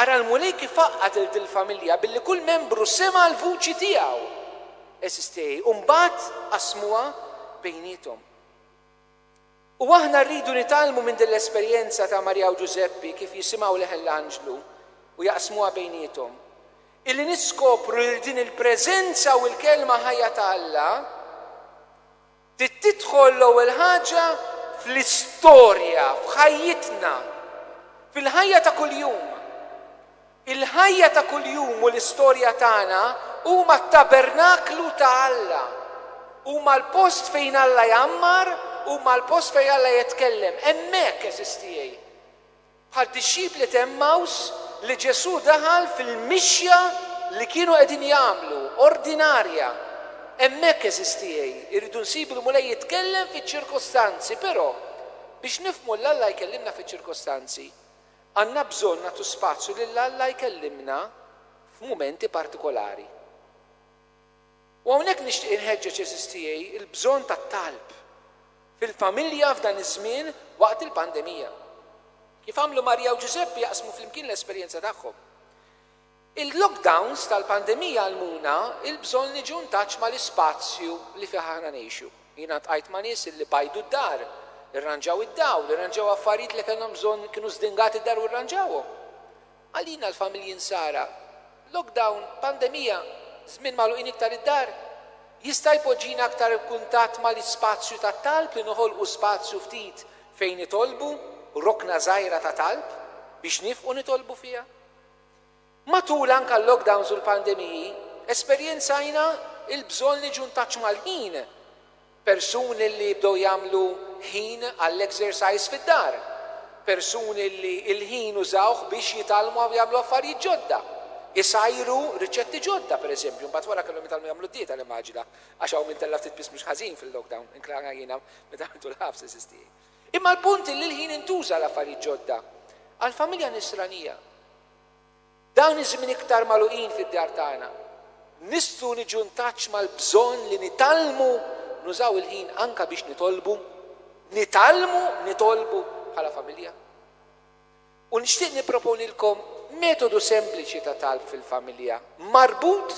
Ara l-Mulej kif għaqqad lil dil-familja billi kull membru sema' l-vuċi tiegħu. Eżiż tiegħi, u mbagħad qasmuha bejniethom. U aħna rridu nitgħallmu minn din l-esperjenza ta' Marija u Ġużeppi kif jisimgħu leħen l-anġlu u jaqsmuha bejniethom, illi niskopru lil din il-preżenza u l-Kelma ħajja ta' Alla trid tidħol l-ewwel ħaġa fl-istorja, f'ħajjitna, fil-ħajja ta' kuljum. Il-ħajja ta' kuljum u l-istorja tagħna huma t-tabernaklu ta' Alla. Huma l-post fejn Alla jgħammar, huma l-post fejn Alla jetkellem. Hemmhekk, għeżież tiegħi. Bħad-dixxipli t'Għemmaws li Ġesù daħal fil-mixja li kienu qegħdin jagħmlu, ordinarja. Hemmhekk, għeżież tiegħi, irridu nsibu l-Mulej jitkellem fiċ-ċirkostanzi, però, biex nifhmu 'l Alla jkellimna fiċ-ċirkostanzi, Għandna bżonn nagħtu spazju lil Alla jkellimna f'mumenti partikolari. U hawnhekk nixtieq inħeġġeġ għeżież tiegħi l-bżonn tat-talb fil-familja f'dan iż-żmien waqt il-pandemija. Kif għamlu Marija u Ġużeppi jaqsmu flimkien l-esperjenza tagħhom. Il-lockdowns tal-pandemija għallmuna l-bżonn niġu ntaċ mal-ispazju li fih aħna ngħixu. Jiena ltqajt ma' nies illi bajdu d-dar, irranġaw id-dawl, irranġaw affarijiet li kellhom bżonn kienu żdingati d-dar u rranġawhom. Għalina l-familji Nsara, lockdown, pandemija, żmien magħluqin iktar id-dar, jista' jpoġġina aktar b'kuntatt mal-ispazju tat-talb li noħolqu spazju ftit fejn nitolbu, rokna żgħira ta' talb biex nifqu nitolbu fiha. Matul anke l-lockdowns u l-pandemiji, esperjenzajna l-bżonn niġu ntaċ mal-ħin. Persuni li bdew jagħmlu ħin għall-exercise fid-dar. Persuni li l-ħin użawh biex jitgħallmu u jagħmlu affarijiet ġodda. Isajru riċetti ġodda, per eżempju, mbagħad wara kellhom jitgħallmu jagħmlu d-dieta nimmaġina, għax hawn min tella' ftit piż mhux ħażin fil-lockdown, inkluda jiena meta għamilt l-ħabs, eżiż tiegħi. Imma l-punt hi li l-ħin intuża għal affarijiet ġodda. Għall-familja Nisranija, dawn iż-żmien iktar magħluqin fid-djar tagħna, nistgħu niġu ntaċċ mal-bżonn li nitgħallmu nużaw il-ħin anke biex nitolbu, nitgħallmu nitolbu bħala familja. U nixtieq nipproponilkom metodu sempliċi ta' talb fil-familja, marbut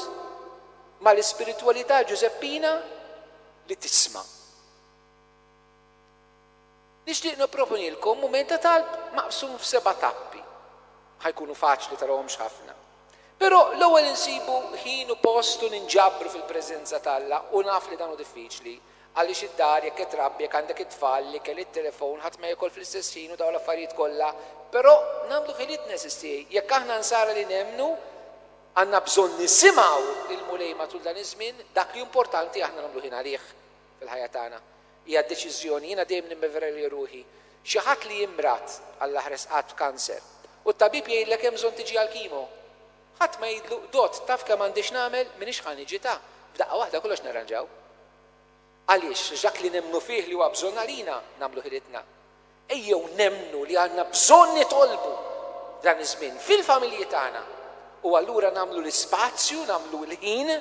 mal-ispiritwalità Ġużeppina li tisma'. Nixtieq nipproponilkom mument ta' talb maqsum f'seba' tappi. Ħa jkunu faċli, tarawhomx ħafna. Però l-ewwel insibu ħin u post u ninġabru fil-preżenza t'Alla u naf li dan hu diffiċli għaliex id-dar, jekk qed trabbi, jekk għandek it-tfal, l-ikel, it-telefon, ħadd ma jekol fl-istess ħin u dawn l-affarijiet kollha, però nagħmlu ħiliet neżisti. Jekk aħna nsara li nemmnu, għandna bżonn nisimgħu lill-Mulej matul dan iż-żmien, dak li hu importanti aħna nagħmlu ħin għalih. fil-ħajja tagħna. Hija deċiżjoni. Jiena dejjem nemmen vera li ruħi, xi ħadd li jimrad għall-aħres qatt b'kanser u t-tabib jgħidlek hemm bżonn tiġi għall-kimo, ħadd ma jgħidlu, Dott, taf kemm għandi x'nagħmel, m'iniex ħa niġi ta, b'daqqa waħda kollox narranġaw. Għaliex? Għax dak li nemmnu fih li huwa bżonn għalina, nagħmluh iridna. Ejjew nemmnu li għandna bżonn nitolbu dan iż-żmien fil-familji tagħna u allura nagħmlu l-ispazju, nagħmlu l-ħin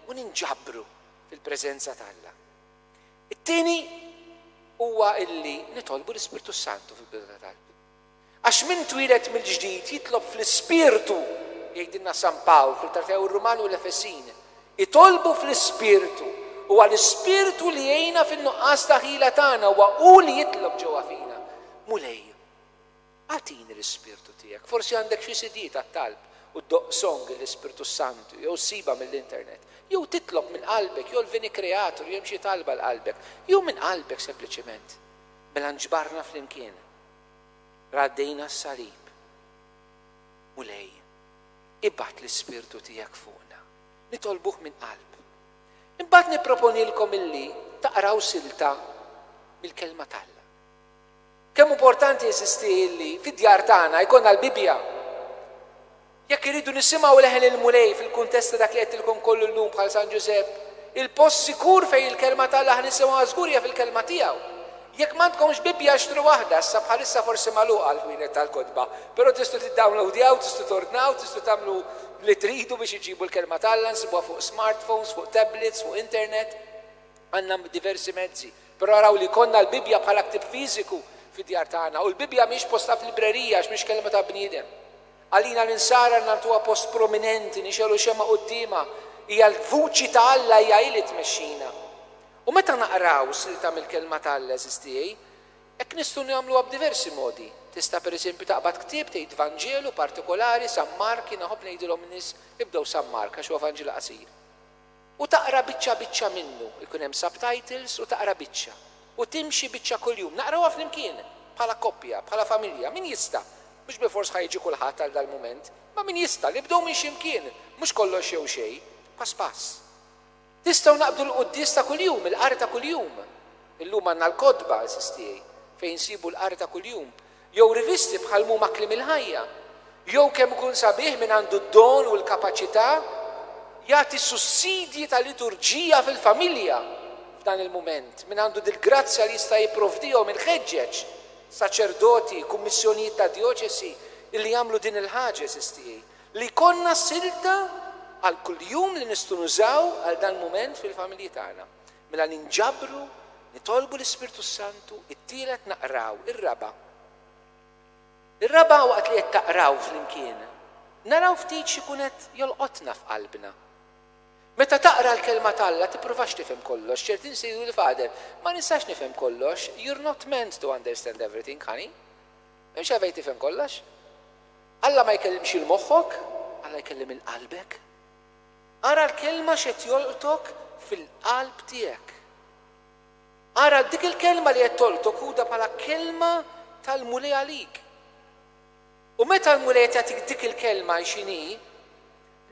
u ninġabru. fil-preżenza ta' Alla. It-tieni huwa illi nitolbu l-Ispirtu s-Santu fil-bidu ta' talb. Għax min twieled mill-ġdid jitlob fl-Ispirtu, jgħidilna San Pawl fl-Ittra tiegħu r-Ruman u l-Efesin. Itolbu fl-Ispirtu. Huwa l-Ispirtu li jgħinna fin-nuqqas ta' ħila tagħna, huwa hu li jitlob ġewwa fina. Mulej, Agħtini l-Ispirtu tiegħek. Forsi għandek xi CD tat-talb u ddoqq song L-Ispirtu s-Santu jew ssibha mill-internet. Jew titlob minn qalbek, jolvini Kreatur, hemm xi talba l-qalbek. Jew minn qalbek sempliċement. Mela nġbarna flimkien. Raddejna s-salib. Mulej, ibgħat l-Ispirtu tiegħek fuqna. Nitolbuh minn qalb. Imbagħad nipproponilkom illi taqraw silta mill-Kelma t'Alla. Kemm importanti jeżisti illi fid-djar tagħna jkollna l-Bibbja! Jekk irridu nisimgħu leħen il-Mulej fil-kuntest ta' dak li għedtilkom kollu llum bħal San Ġużepp, il-post sikur fejn il-Kelma t'Alla ħnisimgħuha żgur hija fil-Kelma tiegħu. Jekk m'għandkomx Bibbja xtru waħda, issa bħalissa forsi magħluqa l-ħwienet tal-kotba, però tistgħu tiddownloadjaw, tistgħu tordnaw, tistgħu tagħmlu li tridu biex iġġibu l-Kelma t'Alla, nsibuha fuq smartphones, fuq tablets, fuq internet. Għandna diversi mezzi Però araw li jkollna l-Bibbja bħala ktieb fiżiku fid-djar tagħna. U l-Bibbja mhix postha f'librerija għax mhix kelma ta' bniedem. Għalina l-Insara li nagħtuha post prominenti, nixegħlu xemgħa quddiemha, hija l-vuċi ta' Alla, hija hi li tmexxina. U meta naqraw slita mill-Kelma ta' Alla, għeżież tiegħi, hekk nistgħu nagħmluha b'diversi modi. Tista' pereżempju taqbad ktieb, tgħid Vanġelu partikolari, San Mark, jien inħobb ngħidilhom in-nies ibdew San Mark għax huwa Vanġelu qasir. u taqra biċċa biċċa minnu, ikun hemm subtitles u taqra biċċa, u timxi biċċa kuljum, naqrawha flimkien, bħala koppja, bħala familja, min jista', mhux bilfors ħa jiġi kulħadd għal dal-mument, imma min jista', nibdew minn xi mkien, mhux kollox jew xejn, pass pass. Nistgħu naqbdu l-quddies ta' kuljum, il-qari ta' kuljum. Illum għandna l-kotba, għażiż tiegħi, fejn insibu l-qari ta' kuljum. jew rivisti bħal mhuma Kliem il-Ħajja, jew kemm ikun sabiħ min għandu d-don u l-kapaċità jagħti sussidji ta' liturġija fil-familja f'dan il-mument, min għandu dil-grazzja li jista' jipprovdihom il-ħeġġeġ, saċerdoti, kummissjonijiet ta' djoċesi illi jagħmlu din il-ħaġa, għeżież tiegħi, li jkollna silta għal kuljum li nistgħu nużaw għal dan mument fil-familji tagħna. Mela ninġabru, nitolbu l-Ispirtu s-Santu, it-tielet naqraw, ir-raba'. Ir-raba' waqt li qed taqraw flimkien, naraw ftit x'ikun qed jolqotna f'qalbna. Meta taqra l-Kelma t'Alla tippruvax tifhem kollox, ċertin se jgħidu l-Father, ma nistax nifhem kollox, you're not meant to understand everything, honey. M'hemmx għalfejn tifhem kollox. Alla ma jkellimx 'il moħħok, Alla jkellim 'il qalbek. Ara l-kelma x'qed jolqtok fil-qalb tiegħek. Ara dik il-kelma li qed tolqtok ħudha bħala kelma tal-Mulej għalik. U meta l-Mulej qed jagħtik dik il-kelma hi x'inhi,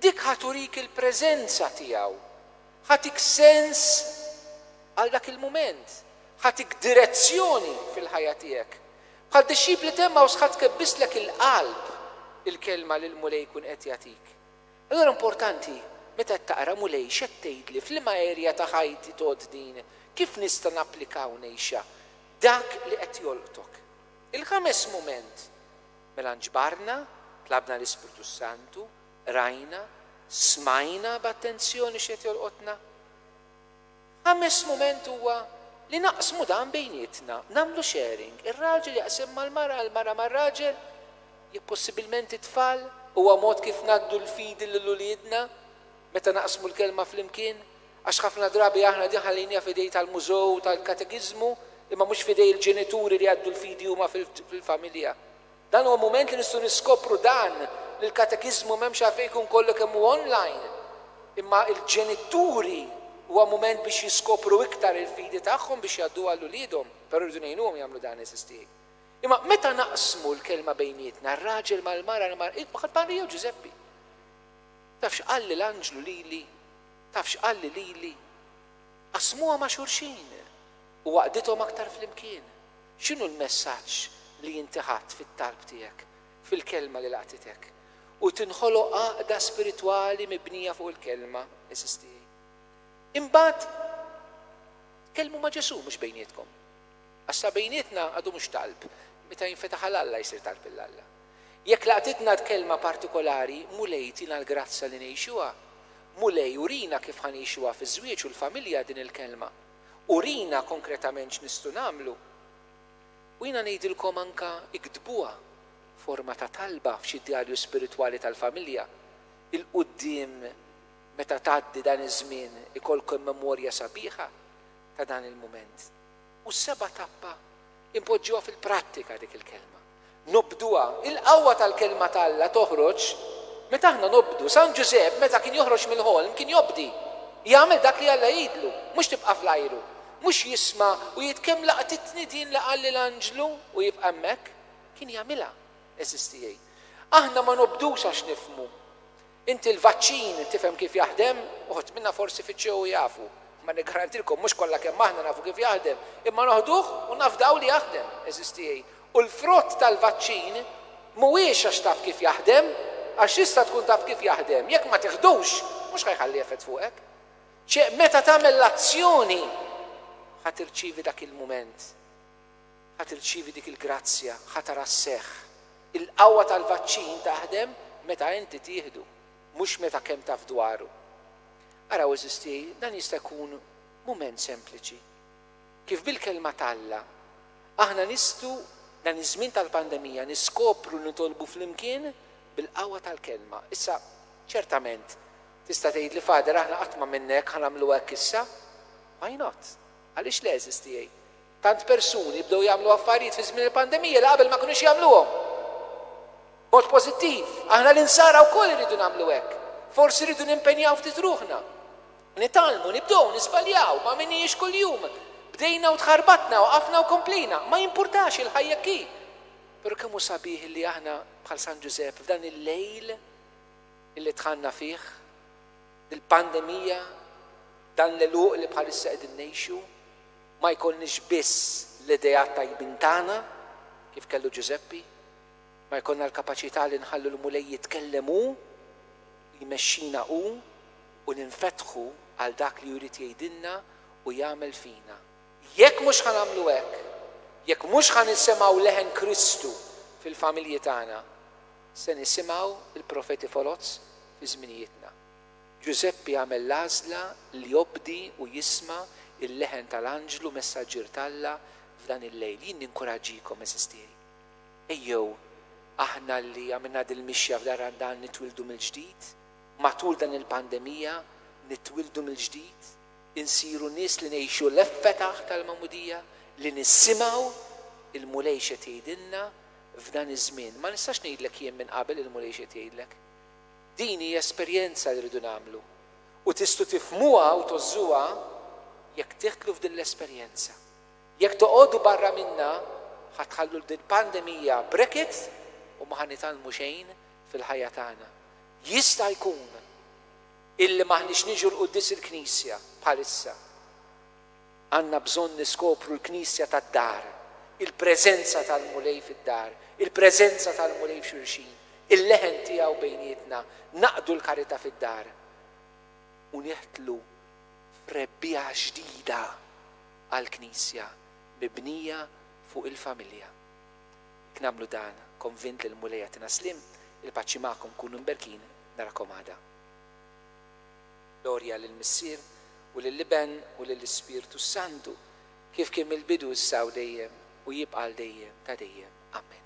dik ħa turik il-preżenza tiegħu, ħatik sens għal dak il-mument, ħatik direzzjoni fil-ħajja tiegħek. Bħal dixxipli t'Emmaws ħa tkebbislek il-qalb il-kelma li l-Mulej jkun qed jagħtik. Allura importanti, meta qed taqra, Mulej, x'qed tgħidli? F'liema erja ta' ħajti tgħodd din? Kif nista' napplika u ngħixha? Dak li qed jolqtok. Il-ħames mument, Mela nġbarna, tlabna l-Ispirtu s-Santu, qrajna, smajna b'attenzjoni x'qed jolqotna. Ħames mument huwa li naqsmu dan bejnietna, nagħmlu sharing, ir-raġel jaqsim mal-mara, il-mara mar-raġel, jekk possibilment it-tfal, huwa mod kif ngħaddu l-fidi lil uliedna meta naqsmu l-Kelma flimkien, għax ħafna drabi aħna din ħallejniha f'idejn tal-mużew u tal-katekiżmu imma mhux f'idejn il-ġenituri li jgħaddu l-fidi huma fil-familja. Dan huwa mument li nistgħu niskopru dan li l-katekiżmu m'hemmx għalfejn ikun kollu kemm hu online, imma l-ġenituri huwa mument biex jiskopru iktar il-fidi tagħhom biex jgħadduha lil uliedhom, però rridu ngħinuhom jagħmlu dan, eżisti. Imma meta naqsmu l-kelma bejnietna, r-raġel mal-mara, l-mara, hi baqgħet Marija jew Ġużeppi? Taf x'qalli l-anġlu lili? Taf x'qalli lili? Qasmuha ma' xulxin. U għaqqdithom aktar flimkien. X'inhu l-messaġġ li inti ħadt fit-talb tiegħek, fil-Kelma li laqtitek? U tinħoloq għaqda spiritwali mibnija fuq il-Kelma, għeżież tiegħi. Imbagħad tkellmu ma' Ġesù, mhux bejnietkom. Għax sa bejnietna għadu mhux talb, meta jinfetaħ għal Alla jsir talb lil Alla. Jekk laqtitna d-Kelma partikolari, Mulej tina l-grazzja li ngħixuha. Mulej urina kif ħa ngħixuha fiż-żwieġ u l-familja din il-Kelma. Urina konkretament x'nistgħu nagħmlu. U jiena ngħidilkom anke iktbuha f'forma ta' talba f'xi djarju spiritwali tal-familja. 'il quddiem meta tgħaddi dan iż-żmien ikollkom memorja sabiħa ta' dan il-mument. U s-seba' tappa, inpoġġuha fil-prattika dik il-kelma. Nobduha. Il-qawwa tal-Kelma ta' Alla toħroġ meta aħna nobdu. San Ġużepp meta kien joħroġ mill-ħolm kien jobdi. Jagħmel dak li Alla jgħidlu, mhux tibqa' fl-ajru. Mhux jisma' u jgħid kemm laqtitni din li qalli l-anġlu u jibqa' hemmhekk. Kien jagħmilha, għeżież tiegħi. Aħna ma nobdux għax nifhmu. Inti l-vaċċin tifhem kif jaħdem? Uħud minna forsi fittxew u jafu. Imma niggarantilkom mhux kollha kemm aħna nafu kif jaħdem. Imma noħduh u nafdaw li jaħdem, għeżież tiegħi. U l-frott tal-vaċċin mhuwiex għax taf kif jaħdem, għax tista' tkun taf kif jaħdem, jekk ma tiħdux mhux ħa jħalli effett fuqek. Ċe meta tagħmel l-azzjoni ħa tirċievi dak il-mument. Ħa tirċievi dik il-grazzja, ħa tara s-seħħ. Il-qawwa tal-vaċċin taħdem meta inti tieħdu, mhux meta kemm taf dwaru. Araw għeżież tiegħi, dan jista' jkun mument sempliċi. Kif bil-Kelma t'Alla, aħna nistgħu, dan iż-żmien tal-pandemija, niskopru li nitolbu flimkien bil-qawwa tal-Kelma. Issa, ċertament, tista' tgħidli, Father, aħna qatt m'għamilna hekk, ħa nagħmlu hekk issa? Why not? Għaliex le, għeżież tiegħi? Tant persuni bdew jagħmlu affarijiet fi żmien il-pandemija li qabel ma kinux jagħmluhom. B'mod pożittiv, aħna l-Insara wkoll irridu nagħmlu hekk. Forsi rridu nimpenjaw ftit ruħna. Nitgħallmu, nibdew, niżbaljaw, ma għamilnihiex kuljum. Bdejna u tħarbatna, waqafna u komplejna. Ma jimpurtax, il-ħajja hekk hi. Però kemm hu sabiħ illi aħna, bħal San Ġużepp, f'dan il-lejl illi dħalna fih, dil-pandemija, dan l-għeluq li bħalissa qegħdin ngħixu, Ma jkollniex biss l-ideat tajbin tagħna, kif kellu Ġużeppi, ma jkollna l-kapaċità li nħallu l-Mulej jitkellem hu, li jmexxina hu u li nfetħu għal dak li hu jrid jgħidilna u jagħmel fina. Jekk mhux ħa nagħmlu hekk, jekk mhux ħa nisimgħu leħen Kristu fil-familji tagħna, se nisimgħu l-profeti foloz fi żminijietna. Ġużeppi għamel l-għażla li jobdi u jisma' l-leħen tal-anġlu messaġġier t'Alla f'dan il-lejl. Jien ninkuraġġikom, għeżież tiegħi, ejjew aħna li għamilna dil-mixja f'dan Randan nitwieldu mill-ġdid, matul dan il-pandemija nitwieldu mill-ġdid, insiru nies li ngħixu l-effetaħ tal-Magħmudija, li nisimgħu l-Mulej x'qed jgħidilna f'dan iż-żmien. Ma nistax ngħidlek jien minn qabel il-Mulej x'qed jgħidlek. Din hi esperjenza li rridu nagħmlu u tistgħu tifhmuha u tgħożżuha jekk tidħlu f'din l-esperjenza. Jekk toqogħdu barra minnha ħa tħallu 'l dil pandemija brekit u ma ħa nitgħallmu xejn fil-ħajja tagħna. Jista' jkun illi m'aħniex niġu 'l quddies il-Knisja bħalissa. Għandna bżonn niskopru l-Knisja tad-dar, il-preżenza tal-Mulej fid-dar, il-preżenza tal-Mulej f'xulxin, il-leħen tiegħu bejnietna, naqdu l-karità fid-dar u nidħlu f'rebbiegħa ġdida għall-Knisja mibnija fuq il-familja. Jekk nagħmlu dan, konvint li l-Mulej jagħtina s-sliem, il-paċi magħkom, kunu mberkin, narakom għada. Glorja lill-Missier, u lill-Iben, u lill-Ispirtu s-Santu, kif kien mill-bidu, issa u dejjem, u jibqa' għal dejjem ta' dejjem. Amen.